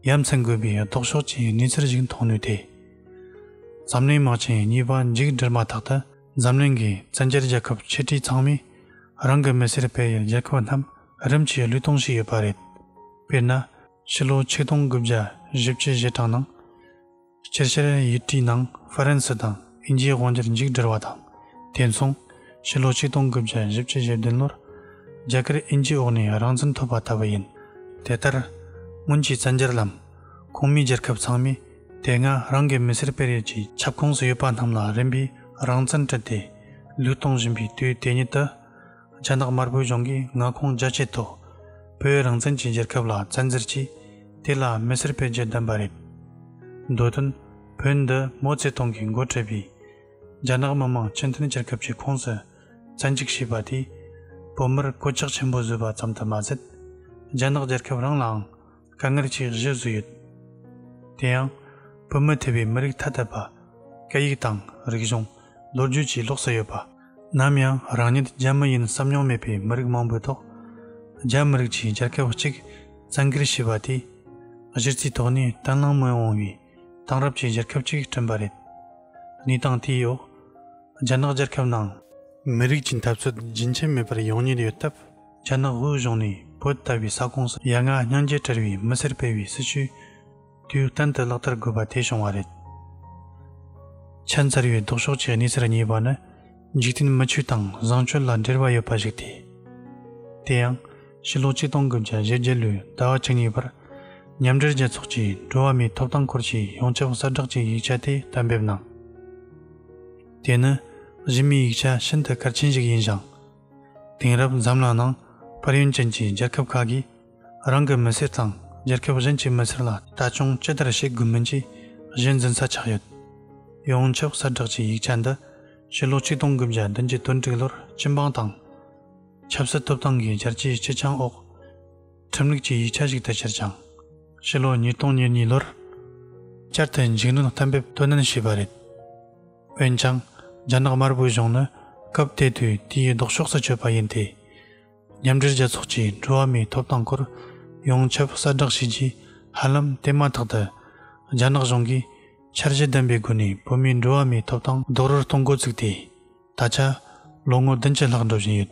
ཡ་མཚན་དགོས་པའི་ལྡོག་ཕྱོགས་ཀྱི་གནས་ཚུལ་ཞིག་མཐོང་ནུས་ཏེ། འཛམ་གླིང་དམག་ཆེན་གཉིས་པ་མཇུག་བསྒྲིལ་མ་ཐག་ཏུ་འཛམ་གླིང་གི་བཙན་རྒྱལ་རྒྱལ་ཁབ་ཆིག་ཁྲི་ཚང་མས་རང་གི་མི་སེར་སྤེལ་ཡུལ་རྒྱལ་ཁབ་རྣམས་རིམ་གྱིས་བསླུས་གཏོང་བྱས་ཡོད་པ་རེད། དཔེར་ན། ཕྱི་ལོ་ཆིག་སྟོང་དགུ་བརྒྱ་བཞི་བཅུ་བཞི་གྲངས་ནང། སྤྱིར་ཕྱི་རོལ་ཡུལ་གྲུའི་ནང་ཧྥ་རན་སི་དང་དབྱིན་ཇིའི་དབང་སྒྱུར་མཇུག་བསྒྲིལ་བ་དང་དེ་མཚུངས་ཕྱི་ལོ་ཆིག་སྟོང་དགུ་བརྒྱ་བཞི་བཅུ་ཞེ་བདུན་ལོར་རྒྱ་གར་དབྱིན་ཇིའི་འོག་ནས་རང་བཙན་ཐོབ་པ་ལྟ་བུ་ཡིན། དེ་ལྟར་སྔོན་གྱི་བཙན་རྒྱལ་ལམ་ཁོངས་མིའི་རྒྱལ་ཁབ་ཚང་མས་དེ་སྔ་རང་གི་མི་སེར་སྤེལ་རེས་ཀྱི་ཁྱབ་ཁོངས་སུ་ཡོད་པ་རྣམས་ལ་རིམ་པས་རང་བཙན་སྤྲད་དེ་ལུགས་གཏོང་བཞིན་པའི་དུས་དེ་ཉིད་དུ། རྒྱ་ནག་དམར་པོའི་གཞུང་གིས་མངའ་ཁོངས་རྒྱ་བསྐྱེད་ཐོག་བོད་རང་བཙན་གྱི་རྒྱལ་ཁབ་ལ་བཙན་འཛུལ་གྱིས་དེ་ལ་མི་སེར་སྤེལ་རྒྱུ་བདམས་པ་རེད། འདོད་དོན། བོད་འདི་མོ་ཙེ་ཏུང་གིས་མགོ་ཁྲིད་པའི་རྒྱ་ནག་མི་དམངས་སྤྱི་མཐུན་རྒྱལ་ཁབ་ཀྱི་ཁོངས་སུ་བཙན་འཇུག་བྱས་པ་དེས་བོད་མིར་གོད་ཆག་ཆེན་པོ་བཟོས་པ་ཙམ་དུ་མ་ཟད། རྒྱ་ནག་རྒྱལ་ཁབ་རང་ལའང་དཀའ་ངལ་ཆེས་བཞི་བཟོས་ཡོད། དེ་ཡང། བོད་མི་ཐེ་བའི་མི་རིགས་ཐ་དད་པ། སྐད་ཡིག་དང་རིག་གཞུང། ལོ་རྒྱུས་བཅས་ལོག་སུ་ཡོད་པ། ནམ་ཡང་རང་ཉིད་རྒྱ་མི་ཡིན་བསམ་མྱོང་མེད་པའི་མི་རིགས་མང་པོའི་ཐོག། རྒྱ་མི་རིགས་ཀྱིས་རྒྱལ་ཁབ་གཅིག་བཙན་སྒེར་བྱས་པ་དེས། གཞི་རྩའི་ཐོག་ནས་བརྟན་བརླིང་མི་འོང་བའི་དེང་རབས་ཀྱི་རྒྱལ་ཁབ་ཅིག་བསྐྲུན་པ་རེད། གནས་སྟངས་དེའི་འོག། རྒྱ་ནག་རྒྱལ་ཁབ་ནང། མི་རིགས་ཀྱི་འཐབ་རྩོད་རྒྱུན་ཆད་མེད་པར་ཡོང་ཉེར་ཡོད་སྟབས། རྒྱ་ནག་དབུས་གཞུང་ནས་བོད་ལྟ་བུའི་ས་ཁོངས་སུ་ཡ་ང་སྙིང་རྗེ་བྲལ་བའི་མི་སེར་སྤེལ་བའི་སྲིད་བྱུས་དུས་གཏན་དུ་ལག་བསྟར་དགོས་པ་དེ་བྱུང་བ་རེད། ཁྱད་མཚར་བའི་ལྡོག་ཕྱོགས་ཀྱི་གནས་ཚུལ་གཉིས་པ་ནི། འཇིག་རྟེན་མི་ཆོས་དང་བཟང་སྤྱོད་ལ་འབྲེལ་བ་ཡོད་པ་ཞིག་སྟེ། དེ་ཡང་ཕྱི་ལོ་གཅིག་སྟོང་དགུ་བརྒྱ་བཞི་བརྒྱད་ལོའི་ཟླ་བ་བཅུ་གཉིས་པར། མཉམ་འབྲེལ་རྒྱལ་ཚོགས་ཀྱི་འགྲོ་བ་མིའི་ཐོབ་ཐང་སྐོར་གྱི་ཡོངས་ཁྱབ་གསལ་བསྒྲགས་ཀྱི་ཡིག་ཆ་དེ་གཏན་འབེབས་གནང། དེ་ནི་གཞི་མེད་ཡིག་ཆ་ཤིན་ཏུ་གལ་ཆེན་ཞིག་ཡིན་ཞིང། དེང་རབས་འཛམ་གླིང་ནང་ཕར་ཡུན་ཅན་གྱི་རྒྱལ་ཁབ་ཁག་གིས་རང་གི་མི་སེར་དང་རྒྱལ་ཁབ་གཞན་གྱི་མི་སེར་ལ་ལྟ་སྐྱོང་ཅི་ལྟར་བྱེད་དགོས་མིན་གྱི་གཞི་འཛིན་ས་ཆགས་ཡོད། ཡོངས་ཁྱབ་གསལ་བསྒྲགས་ཀྱི་ཡིག་ཆ་འདི་ཕྱི་ལོ་ཆིག་སྟོང་དགུ་བརྒྱ་བདུན་བརྒྱད་དོན་དྲུག་ལོར་སྤྱི་འབངས་དང། ཆབ་སྲིད་ཐོབ་ཐང་གི་བསྐྱར་སྐྱེའི་སྤྱི་ཆིངས་འོག་ཁྲིམས་ལུགས་ཀྱི་ཡིག་ཆ་ཞིག་ཏུ་གྱུར་ཅིང། ཕྱི་ལོ་ཉིས་སྟོང་ཉེར་གཉིས་ལོར་བསྐྱར་དུ་འཇིགས་སྣོན་གཏན་འབེབས་དོན་ནན་བྱས་པ་རེད། འོན་ཀྱང་རྒྱ་ནག་དམར་པོའི་གཞུང་ནི་སྐབས་དེ་དུས་དེའི་ལྡོག་ཕྱོགས་སུ་ཆུད་པ་ཡིན་ཏེ། མཉམ་འབྲེལ་རྒྱལ་ཚོགས་ཀྱིས་འགྲོ་བ་མིའི་ཐོབ་ཐང་སྐོར་ཡོངས་ཁྱབ་གསལ་བསྒྲགས་བྱས་རྗེས་ཧ་ལམ་དེ་མ་ཐག་ཏུ། རྒྱ་ནག་གཞུང་གིས་འཆར་གཞི་ལྡན་པའི་སྒོ་ནས་བོད་མིའི་འགྲོ་བ་མིའི་ཐོབ་ཐང་རྡོག་རོལ་གཏོང་འགོ་བཙུགས་ཏེ། ད་ཆ་ལོ་ངོ་བདུན་ཅུ་ལྷག་འགྲོ་བཞིན་ཡོད།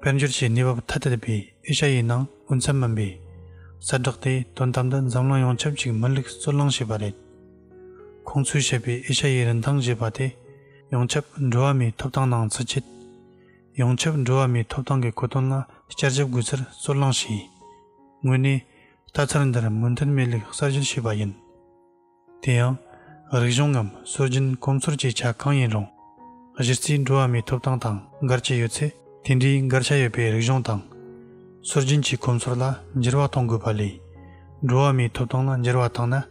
དཔལ་འབྱོར་གྱི་གནས་བབ་ཐ་དད་པའི་ཨེ་ཤ་ཡའི་ནང་དབུ་མཚམས་མིན་པའི་གསལ་བསྒྲགས་དེས་དོན་དམ་དུ་འཛམ་གླིང་ཡོངས་ཁྱབ་ཅིག་མི་ལུགས་རྩོད་གླེང་བྱས་པ་རེད། ཁོང་ཚོས་བཤད་པའི་ཨེ་ཤ་ཡའི་རིན་ཐང་ཞེས་པ་དེ་ཡོངས་ཁྱབ་འགྲོ་བ་མིའི་ཐོབ་ཐང་ནང་བརྩི་བྱེད། ཡོངས་ཁྱབ་འགྲོ་བ་མིའི་ཐོབ་ཐང་གི་གོ་དོན་ལ་བསྐྱར་ཞིབ་དགོས་ཚུལ་རྩོད་གླེང་བྱས། དངོས་གནས། ལྟ་ཚུལ་འདིར་མུ་མཐུད་མེད་ལུགས་གསར་བཞེངས་བྱས་པ་ཡིན། དེ་ཡང། རིག་གཞུང་ངམ་སྲོལ་རྒྱུན་གོམས་ཚོར་གྱི་ཆ་གང་ཡིན་རུང། གཞི་རྩའི་འགྲོ་བ་མིའི་ཐོབ་ཐང་དང་འགལ་གྱི་ཡོད་ཚེ་དེ་འདྲའི་འགལ་ཆ་ཡོད་པའི་རིག་གཞུང་དང། སྲོལ་རྒྱུན་གྱི་གོམས་ཚོར་ལ་འགྱུར་བ་གཏོང་དགོས་པ་ལས། འགྲོ་བ་མིའི་ཐོབ་ཐང་ལ་འགྱུར་བ་བཏང་ན་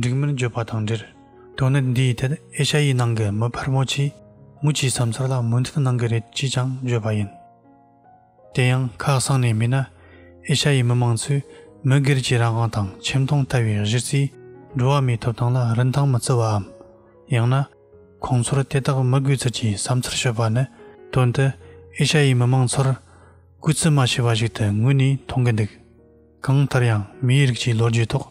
འགྲིག་མིན་བརྗོད་པ་དང་འབྲེལ། དོན་གནད་འདིའི་ཐད་ཨེ་ཤ་ཡའི་ནང་གི་མི་ཕལ་མོ་ཆེས་མུ་ཆེའི་བསམ་ཚུལ་ལ་མོས་མཐུན་གནང་གི་རེད་ཅེས་ཀྱང་བརྗོད་པ་ཡིན། དེ་ཡང་ཁ་སང་ནས་མིན་ན། ཨེ་ཤ་ཡའི་མི་མང་ཚོས་མི་སྒེར་གྱི་རང་དབང་དང་ཁྱིམ་སྟོང་ལྟ་བའི་གཞི་རྩའི་འགྲོ་བ་མིའི་ཐོབ་ཐང་ལ་རིན་ཐང་མི་བརྩི་བའམ། ཡང་ན། ཁོང་ཚོར་དེ་དག་མི་དགོས་ཚུལ་གྱི་བསམ་ཚུལ་ཤོད་པ་ནི་དོན་དུ་ཨེ་ཤ་ཡའི་མི་མང་ཚོར་གུས་བརྩི་མ་བྱས་པ་ཞིག་ཏུ་ངོས་ནས་མཐོང་གི་འདུག་གང་ལྟར་ཡང་མིའི་རིགས་ཀྱི་ལོ་རྒྱུས་ཐོག་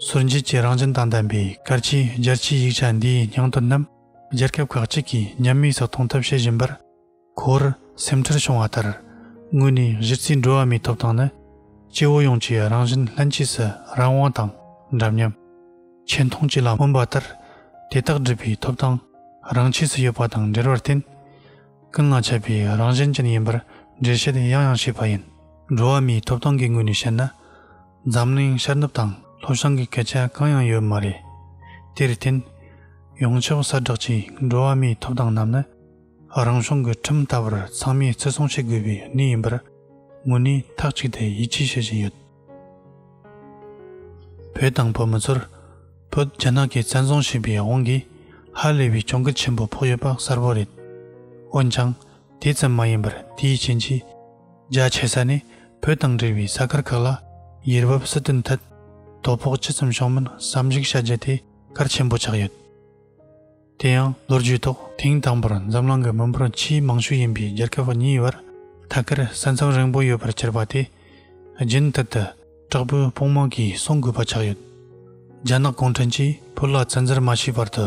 ཟུར་འཇལ་གྱི་རང་བཞིན་དང་ལྡན་པའི་གལ་ཆེའི་རྒྱལ་སྤྱིའི་ཡིག་ཆ་འདིའི་སྙིང་དོན་རྣམས་རྒྱལ་ཁབ་ཁག་གཅིག་གིས་ཉམས་དམས་སུ་གཏོང་ཐབས་བྱེད་བཞིན་པར། འཁོར་སེམས་ཁྲལ་བྱུང་བ་ལྟར་དངོས་གནས་གཞི་རྩའི་འགྲོ་བ་མིའི་ཐོབ་ཐང་ནི་སྐྱེ་བོ་ཡོངས་ཀྱི་རང་བཞིན་ལྷན་སྐྱེས་སུ་རང་དབང་དང་འདྲ་མཉམ། ཆེ་མཐོང་བཅས་ལ་སྨོན་པ་ལྟར་དེ་དག་སྒྲུབ་པའི་ཐོབ་ཐང་རང་ཆས་སུ་ཡོད་པ་དང་འབྲེལ་བར་བརྟེན། ཀུན་ལ་ཁྱབ་པའི་རང་བཞིན་ཅན་ཡིན་པར་འགྲེལ་བཤད་ཡང་ཡང་བྱས་པ་ཡིན། འགྲོ་བ་མིའི་ཐོབ་ཐང་གི་ངོས་ནས་བཤད་ན། འཛམ་གླིང་ཤར་ནུབ་དང་ལྷོ་བྱང་གི་སྐད་ཆ་གང་ཡང་ཡོད་མ་རེད། དེར་བརྟེན། ཡོངས་ཁྱབ་གསལ་བསྒྲགས་ཀྱི་འགྲོ་བ་མིའི་ཐོབ་ཐང་རྣམས་ནི། རང་བྱུང་གི་ཁྲིམས་ལྟ་བུར་ཚང་མས་བརྩི་སྲུང་བྱེད་དགོས་པའི་གནས་ཡིན་པར་ངོས་ནས་ཐག་གཅིག་ཏུ་ཡིད་ཆེས་བྱེད་བཞིན་ཡོད། བོད་དང་བོད་མི་ཚོར་བོད་རྒྱ་ནག་གིས་བཙན་བཟུང་བྱས་པའི་དབང་གིས་ཧ་ལས་པའི་གྱོང་གུད་ཆེན་པོ་ཕོག་ཡོད་པ་གསལ་པོ་རེད། འོན་ཀྱང་དེ་ཙམ་མ་ཡིན་པར་དེའི་རྐྱེན་གྱིས་རྒྱ་ཆེ་ས་ནས་བོད་དང་འབྲེལ་བའི་ས་ཁུལ་ཁག་ལ་ཡུལ་བབ་སྲིད་དོན་ཐད་དོ་ཕོག་ཅི་ཙམ་བྱུང་མིན་བསམ་གཞིགས་བྱ་རྒྱུ་དེ་གལ་ཆེན་པོ་ཆགས་ཡོད། དེ་ཡང་ལོ་རྒྱུས་ཐོག་དེང་དང་པོར་འཛམ་གླིང་གི་མི་འབོར་ཆེས་མང་ཤོས་ཡིན་པའི་རྒྱལ་ཁབ་གཉིས་བར་ཐད་ཀར་ས་མཚམས་རིང་པོ་ཡོད་པར་གྱུར་པ་དེ་རྒྱུན་མཐུད་དུ་དྲག་པོའི་དཔུང་དམག་གིས་སྲུང་དགོས་པ་ཆགས་ཡོད། རྒྱ་ནག་གུང་ཁྲན་གྱིས་བོད་ལ་བཙན་འཛུལ་མ་བྱས་བར་དུ་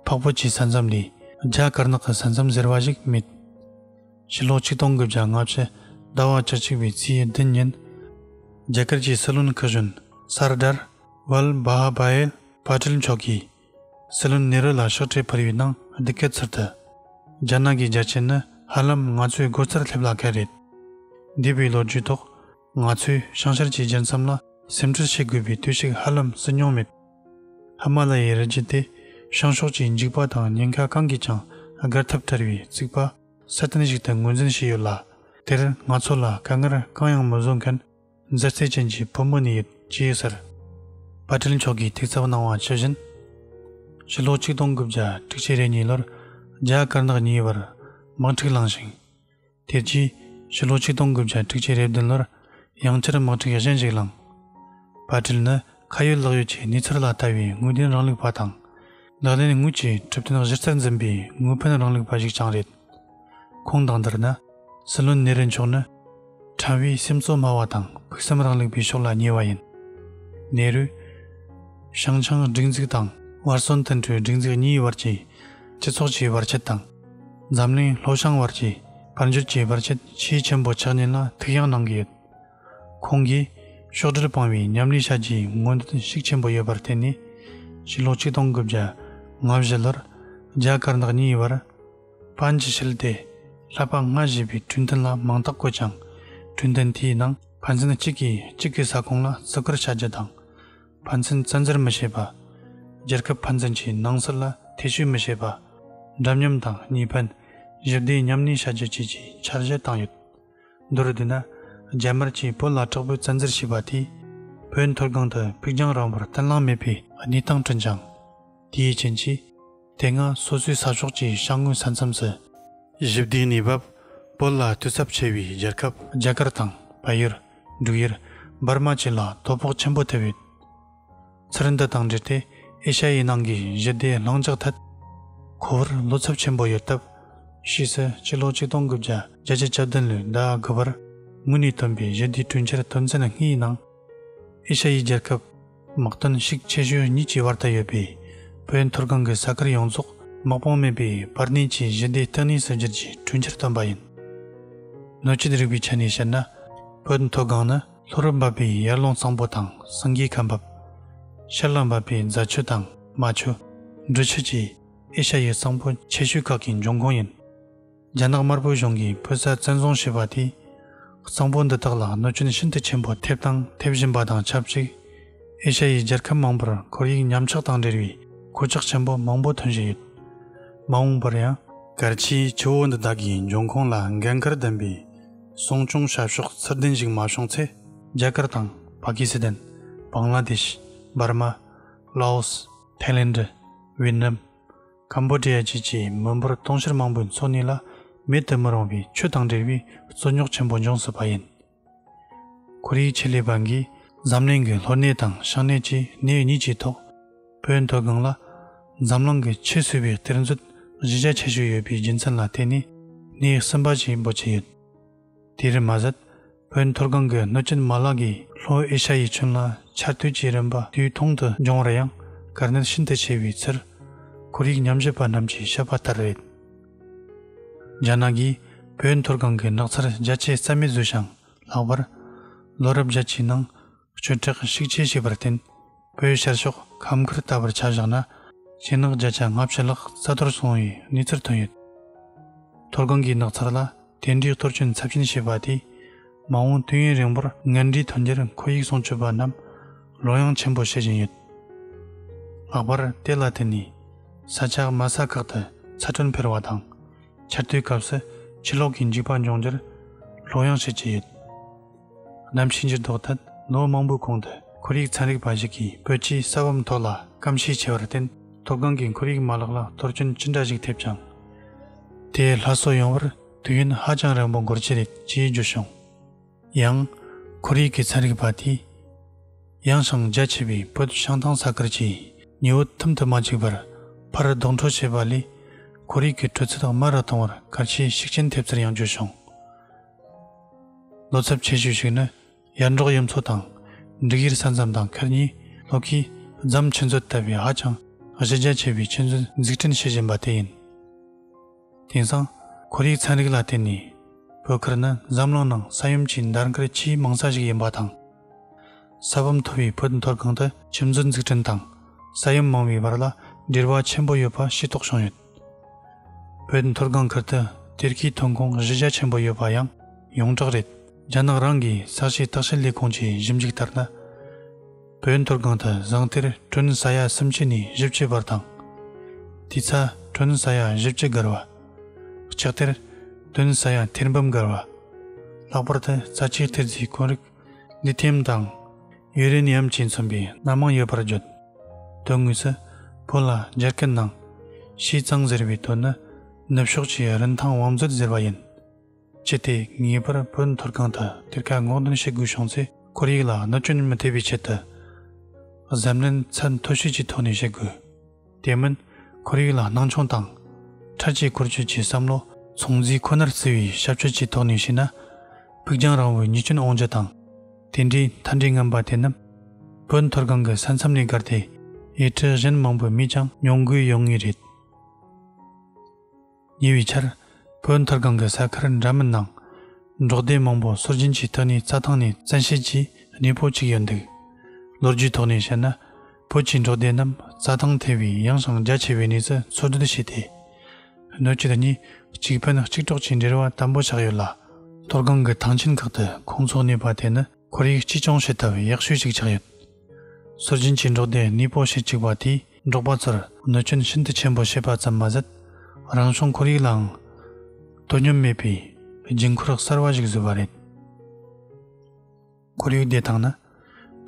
འཕགས་བོད་ཀྱི་ས་མཚམས་ལས་རྒྱ་དཀར་ནག་གི་ས་མཚམས་ཟེར་བ་ཞིག་མེད། ཕྱི་ལོ་ཆིག་སྟོང་གི་བརྒྱ་ལྔ་བཅུ་ཟླ་བ་བཅུ་གཅིག་པའི་ཚེས་བདུན་ཉིན་རྒྱ་གར་གྱི་སྲིད་བློན་ཁི་ཞོན་སར་དར་ཝལ་བྷ་ཧ་བྷ་ཨེལ་བྷ་ཏིལ་མཆོག་གིས་སྲིད་བློན་ནེ་རུ་ལ་ཕྱག་འཕྲེད་ཕུལ་ཡོད་སྣང་འདི་སྐད་ཚུར་བསྟོད། རྒྱ་ནག་གི་རྒྱ་ཆེན་ནི་ཧ་ལམ་ང་ཚོའི་སྒོ་རྩར་སླེབས་ལ་གལ་རེད། འདས་པའི་ལོ་རྒྱུས་ཐོག་ང་ཚོས་ཤང་ཤར་གྱི་རྒྱལ་མཚམས་ལ་སེམས་ཁྲལ་བྱེད་དགོས་པའི་དུས་ཤིག་ཧ་ལམ་བསུ་མྱོང་མེད། ཧི་མ་ལ་ཡའི་རི་རྒྱུད་དེ་བྱང་ཕྱོགས་ཀྱི་འཇིགས་པ་དང་ཉེན་ཁ་གང་གིས་ཀྱང་བསྒར་ཐབས་བྲལ་བའི་རྩིག་པ་གསལ་སྟོན་ཞིག་ཏུ་ངོས་འཛིན་བྱས་ཡོད་ལ་དེར་ང་ཚོ་ལ་དཀའ་ངལ་གང་ཡང་མི་བཟོ་མཁན་མཛའ་བརྩེ་ཅན་གྱི་བུ་མོ་ནི་ཡོད་ཅེས་ཟེར། པ་ཏྲིལ་མཆོག་གིས་ཐེག་གཙབ་གནང་བ་ཇི་བཞིན། ཕྱི་ལོ་ཆིག་སྟོང་དགུ་བརྒྱ་དྲུག་ཅེ་རེ་གཉིས་ལོར་རྒྱ་དཀར་ནག་གཉིས་བར་དམག་འཁྲིག་བསླངས་ཤིང། དེ་རྗེས་ཕྱི་ལོ་ཆིག་སྟོང་དགུ་བརྒྱ་དྲུག་ཅེ་རེ་བདུན་ལོར་ཡང་བསྐྱར་དམག་འཁྲིག་གཞན་ཞིག་བསླངས། པ་ཏྲིལ་ནི། ཁ་ཡོད་ལག་ཡོད་ཀྱི་གནས་ཚུལ་ལ་ལྟ་བའི་དངོས་བདེན་རང་ལུགས་པ་དང། ལག་ལེན་དངོས་ཀྱི་གྲུབ་དོན་གཞིར་རྩར་འཛིན་པའི་དངོས་ཕན་རང་ལུགས་པ་ཞིག་ཀྱང་རེད། ཁོང་དང་འདིར་ནི། སྲིད་བློན་གནས་རི་མཆོག་ནི། ཕྲན་བུའི་སེམས་གཙོ་སྨྲ་བ་དང་ཕུགས་བསམ་རང་ལུགས་པའི་ཕྱོགས་ལ་ཉེ་བ་ཡིན། ནེ་རུ། ཞང་ཆང་སྒྲིག་འཛུགས་དང་བར་སོན་ཏུན་ཀྲོའི་སྒྲིག་འཛུགས་གཉིས་བར་གྱི་སྤྱི་ཚོགས་ཀྱི་བར་ཆད་དང། འཛམ་གླིང་ལྷོ་བྱང་བར་གྱི་དཔལ་འབྱོར་གྱི་བར་ཆད་ཆེས་ཆེན་པོ་ཆགས་ཉེན་ལ་ཐུགས་ཡང་གནང་གི་ཡོད། ཁོང་གིས། ཕྱོགས་བསྒྲིལ་སྤང་བའི་ཉམས་ལེན་བྱ་རྒྱུའི་སྔོན་འགྲོ་དུས་ཤིག་ཆེན་པོ་ཡོད་པར་བརྟེན་ནས། ཕྱི་ལོ་ཆིག་སྟོང་དགུ་བརྒྱ་ང་བཞི་ལོར་རྒྱ་དཀར་ནག་གཉིས་བར་པཱན་གྱི་ཞི་བདེ་ལྷག་པ་ལྔ་ཞེས་པའི་གྲོས་མཐུན་ལ་མིང་རྟགས་བཀོད་ཀྱང། གྲོས་མཐུན་དེའི་ནང་ཕན་ཚུན་གཅིག་གིས་གཅིག་གི་ས་ཁོངས་ལ་བརྩི་བཀུར་བྱ་རྒྱུ་དང། ཕན་ཚུན་བཙན་འཛུལ་མི་བྱེད་པ། རྒྱལ་ཁབ་ཕན་ཚུན་གྱི་ནང་སྲིད་ལ་ཐེ་བྱུས་མི་བྱེད་པ། འདྲ་མཉམ་དང་གཉིས་ཕན། ཞི་བདེའི་ཉམས་ལེན་བྱ་རྒྱུ་བཅས་ཀྱི་འཆར་གཞི་བཏང་ཡོད། མདོར་བསྡུས་ན། རྒྱ་དམར་གྱིས་བོད་ལ་དྲག་པོའི་བཙན་འཛུལ་བྱས་པ་དེས། བོད་མཐོ་སྒང་དུ་ཕུགས་རྒྱང་རིང་བོར་བརྟན་བརླིང་མེད་པའི་གནས་སྟངས་བསྐྲུན་ཅིང། དེའི་རྐྱེན་གྱིས། དེ་སྔ་སོ་སོའི་ས་ཕྱོགས་ཀྱི་ཤང་ངོས་ས་མཚམས་སུ། ཞི་བདེའི་གནས་བབ། བོད་ལ་བསྟོད་ཚབས་ཆེ་བའི་རྒྱལ་ཁབ། རྒྱ་གར་དང་བལ་ཡུལ། འབྲུག་ཡུལ། འབར་མ་བཅས་ལ་དོ་ཕོག་ཆེན་པོ་ཐེབས་ཡོད། ཚུལ་འདི་དང་འབྲེལ་ཏེ་ཨེ་ཤ་ཡའི་ནང་གི་གཞི་བདེ་བླང་འཇགས་ཐད་ཁོ་བོར་བློ་འཚབ་ཆེན་པོ་ཡོད་སྟབས། ཕྱིས་སུ་སྤྱི་ལོ་ཆིག་སྟོང་དགུ་བརྒྱ་བརྒྱད་ཅུ་གྱ་བདུན་ལོའི་ཟླ་དགུ་པར་དངོས་གནས་བཏོན་པའི་གཞི་བདེའི་གྲོས་འཆར་དོན་ཚན་ལྔའི་ནང། ཨེ་ཤ་ཡའི་རྒྱལ་ཁབ་དམག་དོན་གཤིགས་ཆེ་ཤོས་གཉིས་ཀྱི་བར་དུ་ཡོད་པའི་བོད་མཐོ་སྒང་གི་ས་ཁུལ་ཡོངས་རྫོགས་དམག་དཔུང་མེད་པའི་བར་གནས་ཀྱི་གཞི་བདེའི་སྟེང་གནས་སུ་བསྒྱུར་རྒྱུའི་གྲོས་འཆར་བཏོན་པ་ཡིན། སྣོད་བཅུད་རིག་པའི་ཆ་ནས་བཤད་ན་བོད་མཐོ་སྒང་ནི། ལྷོ་རུ་འབབ་པའི་ཡར་ཀླུང་གཙང་པོ་དང་སངས་རྒྱས་ཁ་འབབ། ཤར་ལ་འབབ་པའི་རྫ་ཆུ་དང་རྨ་ཆུ། འབྲུ་ཆུ་བཅས་ཨེ་ཤ་ཡའི་གཙང་པོ་ཆེ་ཤོས་ཁག་གི་འབྱུང་ཁུངས་ཡིན། རྒྱ་ནག་དམར་པོའི་གཞུང་གིས་ཕོ་གསར་བཙན་བཟུང་བྱས་པ་དེས། གཙང་པོ་འདི་དག་ལ་གནོད་སྐྱོན་ཤིན་ཏུ་ཆེན་པོ་ཐེབས་དང་ཐེབས་བཞིན་པ་དང་ཆབས་ཅིག་ཨེ་ཤ་ཡའི་རྒྱལ་ཁབ་མང་པོར་ཁོར་ཡུག་ཉམས་ཆག་དང་འབྲེལ་བའི་གོད་ཆག་ཆེན་པོ་མང་པོ་ཐོན་བཞིན་ཡོད། མ་འོངས་པར་ཡང། སྐར་ཆའི་ཆུ་བོ་འདི་དག་གི་འབྱུང་ཁུངས་ལ་འགན་ཁུར་ལྡན་པའི་སྲུང་སྐྱོང་བྱ་ཕྱོགས་ཚུར་ལྡན་ཞིག་མ་བྱུང་ཚེ། རྒྱ་གར་དང་པ་ཀི་སི་ཐན། བང་ལ་དེ་ཤི། འབར་མ། ལའོ་སི། ཐའི་ལེན་དྲི། ཝིས་ནམ། ཀམ་པོ་ཏི་ཡ་བཅས་ཀྱི་མི་འབོར་སྟོང་ཕྱིར་མང་པོའི་འཚོ་གནས་ལ་མེད་དུ་མི་རུང་བའི་ཆུ་དང་འབྲེལ་བའི་རྩོད་རྙོག་ཆེན་པོ་འབྱུང་སྲིད་པ་ཡིན། ཁོ་རེའི་ཆེད་ལས་པ་འགས་གཟབ་ནན་གྱིས་ལྷོ་སྣེ་དང་ཤང་སྣེ་བཅས་སྣེ་གཉིས་ཀྱི་ཐོག། བོད་མཐོ་སྒང་ལ་འཛམ་གླིང་གི་ཆེས་བསིལ་བའི་གཏེར་མཛོད་གཞི་རྒྱ་ཆེ་ཤོས་ཡོད་པའི་རྒྱུ་མཚན་ལ་བརྟེན་ནས་ནས་སིམ་པ་ཆེན་པོ་བྱས་ཡོད། དེ་རིང་མ་ཟད་བོད་མཐོ་སྒང་གི་གནོད་སྐྱོན་མ་ལག་གིས་ལྷོ་ཨེ་ཤ་ཡའི་ཁྱོན་ལ་ཆར་དུས་ཀྱི་རིམ་པ་དུས་ཐུང་དུ་འབྱུང་རེ་ཡང་གར་སྣེར་ཤིན་ཏུ་ཆེ་བའི་ཚུལ། ཁོར་ཡུག་ཉམས་ཞིབ་པ་རྣམས་ཀྱིས་བཤད་པ་ལྟར་རེད། རྒྱ་ནག་གིས་བོད་མཐོ་སྒང་གི་ནགས་ཚལ་རྒྱ་ཆེ་རྩ་མེད་བཟོས་ཤིང་ལྷག་པར་ལོ་རབས་བརྒྱད་ཀྱི་ནང་སྤྱོད་བྲེག་བཤིག་བཅས་བྱས་པར་བརྟེན། བོད་ཤར་ཕྱོགས་ཁམས་ཁུལ་ལྟ་བུར་ཆ་བཞག་ན། ཤིང་ནགས་བརྒྱ་ཆ་ལྔ་བཅུ་ལྷག་རྩ་གཏོར་སོང་བའི་གནས་ཚུལ་ཐོན་ཡོད། མཐོ་སྒང་གི་ནགས་ཚལ་ལ་དེ་འདྲའི་གཏོར་སྐྱོན་ཚབས་ཆེན་བྱས་པ་དེས། མ་འོངས་དུས་ཡུན་རིང་པོར་ངན་འབྲས་ཐོན་རྒྱུར་ཁོར་ཡུག་སྲུང་སྐྱོབ་པ་རྣམས་བློ་ཡང་ཆེན་པོ་བྱེད་བཞིན་ཡོད། ལྷག་པར་དེ་ལ་བརྟེན་ནས་ས་ཆ་དམའ་ས་ཁག་ཏུ་ཚ་དྲོད་འཕེལ་བ་དང། ཆར་དུས་སྐབས་སུ་ཕྱི་ལོགས་ཀྱི་འཇིགས་པ་འབྱུང་རྒྱུར་བློ་ཡང་བྱེད་ཀྱི་ཡོད། གནམ་གཤིས་འགྱུར་ལྡོག་ཐད་ལོ་མང་པོའི་གོང་དུ་ཁོར་ཡུག་ཚན་རིག་པ་ཞིག་གིས་བོད་ཀྱི་ས་བབ་མཐོ་ལ་སྐམ་ཤས་ཆེ་བར་བརྟེན་མཐོ་སྒང་གི་ཁོར་ཡུག་མ་ལག་ལ་གཏོར་སྐྱོན་ཅི་འདྲ་ཞིག་ཐེབས་ཀྱང། དེས་ལྷ་གསོ་ཡོང་བར་དུས་ཡུན་ཧ་ཅང་རིང་པོ་འགོར་གྱི་རེད་ཅེས་བརྗོད་བྱུང། ཡང། ཁོར་ཡུག་གི་ཚན་རིག་པ་དེས། ཡང་ཞིང་རྒྱ་ཆེ་བའི་བོད་བྱང་ཐང་ས་ཁུལ་གྱི་ཉི་འོད་ཐུམ་དུ་མ་འཁྱུག་པར་ཕར་ལྡོག་འཕྲོ་བྱེད་པ་ལས་ཁོར་ཡུག་གི་དྲོད་ཚད་དམའ་རུ་གཏོང་བར་གལ་ཆེའི་ཤུགས་རྐྱེན་ཐེབས་ཚུལ་ཡང་བརྗོད་བྱུང། ལོ་ཚབ་ཆེ་ཤོས་ཤིག་ནི་ཡར་འབྲོག་གཡུ་མཚོ་དང་འབྲུག་ཡུལ་ས་མཚམས་དང་ཁུལ་གཉིས་ལྷོ་ཁའི་རྫམ་ཆུ་མཛོད་ལྟ་བུའི་ཧ་ཅང་གཞི་རྒྱ་ཆེ་བའི་ཆུ་མཛོད་འཛུགས་སྐྲུན་བྱེད་བཞིན་པ་དེ་ཡིན། དེང་སང་ཁོར་ཡུག་ཚན་རིག་ལ་བརྟེན་ནས་བོད་ཁུལ་ནི་འཛམ་གླིང་ནང་ས་ཡོམ་གྱི་འདར་མཁར་ཆེས་མང་ས་ཞིག་ཡིན་པ་དང། ས་བབ་མཐོ་བའི་བོད་མཐོ་སྒང་དུ་ཆུ་མཛོད་འཛུགས་སྐྲུན་དང་ས་ཡོམ་མང་བའི་བར་ལ་འབྲེལ་བ་ཆེན་པོ་ཡོད་པ་ཤེས་རྟོགས་བྱུང་ཡོད། བོད་མཐོ་སྒང་ཁུལ་དུ་གཏེར་ཁའི་ཐོན་ཁུངས་གཞི་རྒྱ་ཆེན་པོ་ཡོད་པ་ཡང་ཡོངས་གྲགས་རེད། རྒྱ་ནག་རང་གི་ས་ཆའི་བརྟག་དཔྱད་ལས་ཁུངས་ཀྱི་ཞིབ་འཇུག་ལྟར་ན། བོད་མཐོ་སྒང་དུ་ཟངས་གཏེར་གྲོན་ས་ཡ་སུམ་ཅུ་ནས་བཞི་བཅུ་བར་དང། དུས་ཚ་གྲོན་ས་ཡ་བཞི་བཅུ་འགར་བ། ལྕགས་གཏེར་གྲོན་ས་ཡ་ཐེར་འབུམ་འགར་བ། ལྷག་པར་དུ་རྩ་ཆེའི་གཏེར་རྫས་དཀོན་རིགས་ལི་ཐེམ་དང། ཡུན་རིང་ནད་ཡམས་ཀྱིས་མཚོན་པའི་སྣ་མང་ཡོད་པར་བརྗོད། དོན་དངོས་སུ། བོད་ལ་རྒྱ་སྐད་ནང། ཤིས་གཙང་ཟེར་བའི་དོན་ནི། ནུབ་ཕྱོགས་ཀྱི་རིན་ཐང་བང་མཛོད་ཟེར་བ་ཡིན། ཅི་སྟེ་ངེས་པར་བོད་མཐོ་སྒང་དུ་གཏེར་ཁ་སྔོག་འདོན་བྱེད་དགོས་བྱུང་ཚེ་ཁོར་ཡུག་ལ་གནོད་སྐྱོན་མི་ཐེབས་པའི་ཆེད་དུ། གཟབ་ནན་ཚད་མཐོ་ཤོས་ཀྱི་ཐོག་ནས་བྱེད་དགོས། དེ་མིན་ཁོར་ཡུག་ལ་སྣང་ཆུང་དང། ཁྲ་ཆིལ་འཁོར་སྐྱོད་ཀྱི་བསམ་བློ་ཚོང་འཛིན་ཁོ་ནར་བརྩི་བའི་ཤབ་ཆོས་ཀྱི་ཐོག་ནས་བཤད་ན། ཕུགས་རྒྱང་རིང་བོའི་ཉེས་སྐྱོན་དབང་ཆ་དང། དེ་འདྲའི་མཐའ་འབྲས་རྔམ་པ་དེ་རྣམས་བོད་མཐོ་སྒང་གི་ས་མཚམས་ནས་བགར་ཏེ་ཡུལ་ཁྲི་གཞན་མང་པོའི་མིས་ཀྱང་མྱོང་དགོས་ཡོང་ངེས་རེད། ཉེ་བའི་ཆར། བོད་མཐར་སྒང་གི་ས་ཁར་འདྲ་མིན་ནང། འབྲོག་སྡེ་མང་པོ་སྲོལ་རྒྱུན་གྱི་ཐོན་ལས་རྩྭ་ཐང་ནས་བཙན་ཤེད་ཀྱིས་གནས་སྤོ་བཅུག་ཡོད་འདུག་ལོ་རྒྱུས་ཐོག་ནས་བཤད་ན། བོད་ཀྱི་འབྲོག་སྡེ་རྣམས་རྩྭ་ཐང་ཐེ་བའི་ཡངས་ཤིང་རྒྱ་ཆེ་བའི་གནས་སུ་འཚོལ་སྡུད་བྱས་ཏེ། སྣོད་བཅུད་གཉིས་གཅིག་ཕན་གཅིག་གྲོགས་ཀྱི་འབྲེལ་བ་དམ་པོ་ཆགས་ཡོད་ལ། མཐོ་སྒང་གི་ཐང་ཆེན་ཁག་ཏུ་ཁོང་ཚོ་གནས་པ་དེ་ནི་ཁོར་ཡུག་གཅེས་སྐྱོང་བྱེད་ཐབས་ཡག་ཤོས་ཤིག་ཆགས་ཡོད། སྲོལ་རྒྱུན་གྱི་འབྲོག་སྡེ་ནུས་པོ་ཞིག་བཅུག་པ་དེས་འབྲོག་པ་ཚོར་གནོད་སྐྱོན་ཤིན་ཏུ་ཆེན་པོ་བྱས་པ་ཙམ་མ་ཟད། རང་བྱུང་ཁོར་ཡུག་ལའང་དོ་སྙོམས་མེད་པའི་རྒྱུན་འཁོར་གསར་བ་ཞིག་བཟོས་པ་རེད། ཁོར་ཡུག་བདེ་ཐང་ནི་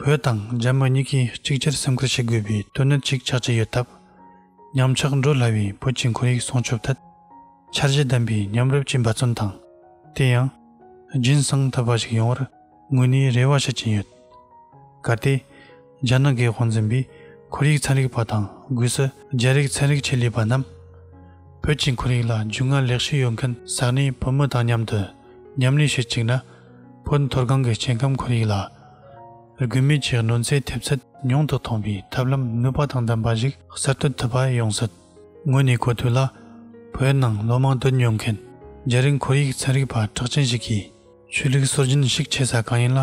བོད་དང་རྒྱ་མི་གཉིས་ཀས་གཅིག་གྱུར་སེམས་ཁུར་བྱེད་དགོས་པའི་དོན་གནད་ཅིག་ཆགས་ཀྱི་ཡོད་སྟབས། ཉམས་ཆག་འགྲོ་སླ་བའི་བོད་ཀྱི་ཁོར་ཡུག་སྲུང་སྐྱོབ་ཐད་འཆར་གཞི་ལྡན་པའི་མཉམ་རུབ་ཀྱི་འབད་བརྩོན་དང། དེ་ཡང། རྒྱུན་བསྲིང་ཐུབ་པ་ཞིག་ཡོང་བར་དངོས་ནས་རེ་བ་བྱེད་ཀྱིན་ཡོད། གལ་ཏེ། རྒྱ་ནག་གི་དབང་འཛིན་པས་ཁོར་ཡུག་ཚན་རིག་པ་དང་སྒོས་སུ་རྒྱ་རིགས་ཚན་རིག་ཆེད་ལས་པ་རྣམས། བོད་ཀྱི་ཁོར་ཡུག་ལ་རྒྱུས་མངའ་ལེགས་ཤོས་ཡོད་མཁན་ས་གནས་བོད་མི་དང་མཉམ་དུ་མཉམ་ལས་བྱེད་ཅིག་ན། བོད་མཐོ་སྒང་གི་སྐྱེ་ཁམས་ཁོར་ཡུག་ལ་དགོས་མེད་ཀྱི་གནོད་འཚེའི་ཐེབས་ཚད་ཉུང་དུ་གཏོང་བའི་ཐབས་ལམ་ནུས་པ་དང་ལྡན་པ་ཞིག་གསར་གཏོད་ཐུབ་པ་ཡོང་སྲིད། ངོས་ནས་གོ་ཐོས་ལ། བོད་ནང་ལོ་མང་སྡོད་མྱོང་མཁན་རྒྱ་རིགས་ཁོར་ཡིག་ཚན་རིག་པ་གྲགས་ཅན་ཞིག་གིས། ཆོས་ལུགས་སྲོལ་རྒྱུན་ཞིག་ཆེ་ས་གང་ཡིན་ལ་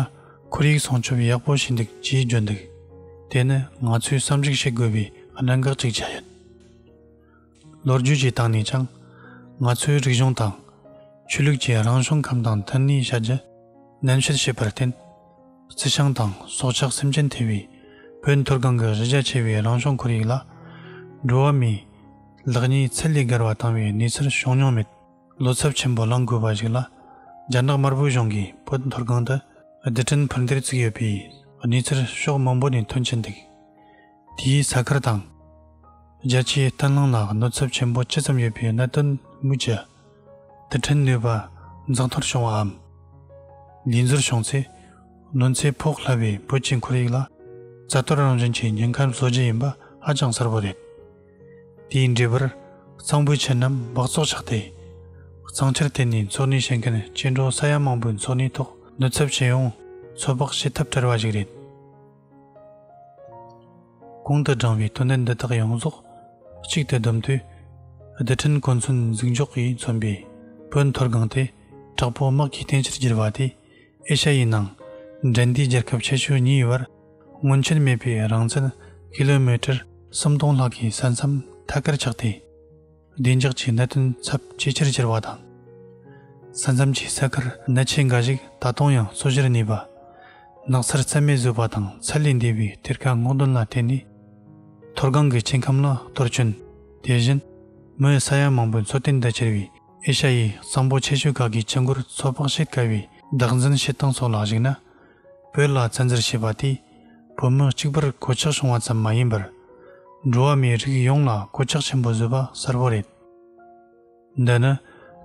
ཁོར་ཡིག་སྲུང་སྐྱོབ་ཡག་པོ་བྱས་འདུག་ཅེས་བརྗོད་འདུག་དེ་ནི་ང་ཚོས་བསམ་གཞིགས་བྱེད་དགོས་པའི་གནད་འགག་ཅིག་ཆགས་ཡོད། ལོ་རྒྱུས་ཀྱི་སྟེང་ནས་ཀྱང། ང་ཚོས་རིག་གཞུང་དང། ཆོས་ལུགས་ཀྱི་རང་བྱུང་ཁམས་དང་མཐུན་གནས་བྱ་རྒྱུ་ནན་བཤད་བྱས་པར་བརྟེན། རྩི་ཤིང་དང་སྲོག་ཆགས་སེམས་ཅན་ཐེ་བའི་བོད་མཐོ་སྒང་གི་གཞི་རྒྱ་ཆེ་བའི་རང་བྱུང་ཁོར་ཡུག་ལ། འགྲོ་བ་མིའི་ལག་གཉིས་ཚད་ལས་བརྒལ་བ་བཏང་བའི་གནས་ཚུལ་བྱུང་མྱོང་མེད། བློ་འཚབ་ཆེན་པོ་ལངས་དགོས་པ་ཞིག་ལ། རྒྱ་ནག་དམར་པོའི་གཞུང་གིས་བོད་མཐོ་སྒང་དུ་རྡུལ་ཕྲན་འཕུར་མདེལ་བརྩིགས་ཡོད་པའི་གནས་ཚུལ་ཕྱོགས་མང་པོ་ནས་ཐོན་གྱི་འདུག་དེས་ས་ཁུལ་དང། རྒྱལ་སྤྱིའི་བརྟན་ལྷིང་ལ་གནོད་འཚབ་ཆེན་པོ་ཅི་ཙམ་ཡོད་པའི་གནད་དོན་སྨོས་ཅི། དུ་འཕྲིན་ནུས་པ་འཛག་མཐོར་བྱུང་བའམ། དགྱེས་ཚོར་བྱུང་ཚེ། གནོད་འཚེ་ཕོག་སླ་བའི་བོད་ཀྱི་འཁོར་ཡིག་ལ། རྩ་གཏོར་རང་བཞིན་གྱི་ཉེན་ཁར་བཟོ་རྒྱུ་ཡིན་པ་ཧ་ཅང་གསལ་བོ་རེད། དེའི་འབྲས་བུར། གཙང་པོའི་ཁྱི་རྣམས་སྦགས་བཙོག་ཆགས་ཏེ། གཙང་ཁྱིར་བརྟེན་ནས་འཚོ་གནས་བྱེད་མཁན་སྐྱེ་འགྲོ་ས་ཡ་མང་པོའི་འཚོ་གནས་ཐོག་གནོད་ཚབས་ཆེ་ཡང། ཚོད་དཔག་བྱེད་ཐབས་བྲལ་བ་ཞིག་རེད། གོང་དུ་བསྒྲངས་པའི་དོན་སྡེ་འདི་དག་ཡོངས་རྫོགས་གཅིག་ཏུ་བསྡོམས་དུས། བདེ་དྲིན་གོ་མཚོན་གཟིགས་འཇོག་གིས་མཚོན་པའི་བོད་མཐོ་སྒང་དེ་དྲག་པོའི་དམག་གིས་བརྟན་ཕྱིར་བསྒྱུར་བ་དེས་ཨེ་ཤ་ཡའི་ནང་འབྲེལ་འདྲིས་རྒྱལ་ཁབ་ཆེ་ཤོས་གཉིས་དབར་སྔོན་ཆད་མེད་པའི་རང་བཙན་ཁེ་ལོ་མི་ཀྲེར་སུམ་སྟོང་ལྷག་གི་ས་མཚམས་ཐད་ཀར་ཆགས་ཏེ། བདེ་འཇགས་ཀྱི་གནད་དོན་ཚབས་ཇེ་ཆེར་གྱུར་བ་དང། ས་མཚམས་ཀྱི་ས་ཁུལ་གནད་ཆེ་འགའ་ཞིག་ད་དུང་ཡང་གསོ་བཞིར་གནས་པ། ནགས་ཚལ་རྩད་མེད་བཟོས་པ་དང་ཚད་ལས་འདས་པའི་གཏེར་ཁ་སྔོག་འདོན་ལ་བརྟེན་ནས། མཐོ་སྒང་གི་སྐྱེ་ཁམས་ལ་གཏོར་སྐྱོན། དེ་བཞིན། མིའི་ས་ཡ་མང་པོའི་འཚོ་རྟེན་དུ་གྱུར་བའི་ཨེ་ཤ་ཡའི་གསང་པོ་ཆེ་ཤོས་ཁག་གི་སྐྱེ་འགོར་ཚོད་དཔག་བྱེད་དཀའ་བའི་བདག་འཛིན་བྱེད་སྟངས་སོགས་ལ་གཞིགས་ན། བོད་ལ་བཙན་འཛུལ་བྱས་པ་དེས་བོད་མི་གཅིག་པུར་གོད་ཆག་བྱུང་བ་ཙམ་མ་ཡིན་པར། འགྲོ་བ་མིའི་རིགས་ཡོངས་ལ་གོད་ཆག་ཆེན་པོ་བཟོས་པ་གསལ་བོ་རེད། འདི་ནི་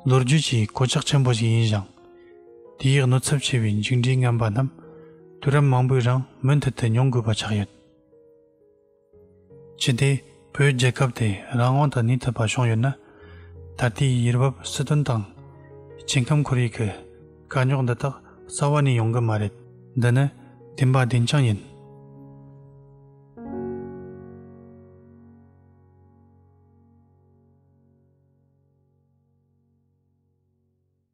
ལོ་རྒྱུས་ཀྱི་གོད་ཆག་ཆེན་པོ་ཞིག་ཡིན་ཞིང། དེའི་གནོད་ཚབས་ཆེ་བའི་མཇུག་འབྲས་ངན་པ་རྣམས་དུས་རབས་མང་པོའི་རིང་མུ་མཐུད་དུ་མྱོང་དགོས་པ་ཆགས་ཡོད། ཅི་སྟེ་བོད་རྒྱལ་ཁབ་དེ་རང་དབང་དང་ནུས་ཐོན་པ་བྱུང་ཡོད་ན། ད་ལྟའི་ཡུལ་བབ་སྲིད་དོན་དང། སྐྱེ་ཁམས་ཁོར་ཡུག་གི་དཀའ་རྙོག་འདི་དག་རྩ་བ་ནས་ཡོང་གི་མ་རེད། འདི་ནི་བདེན་པ་བདེན་རྐྱང་ཡིན།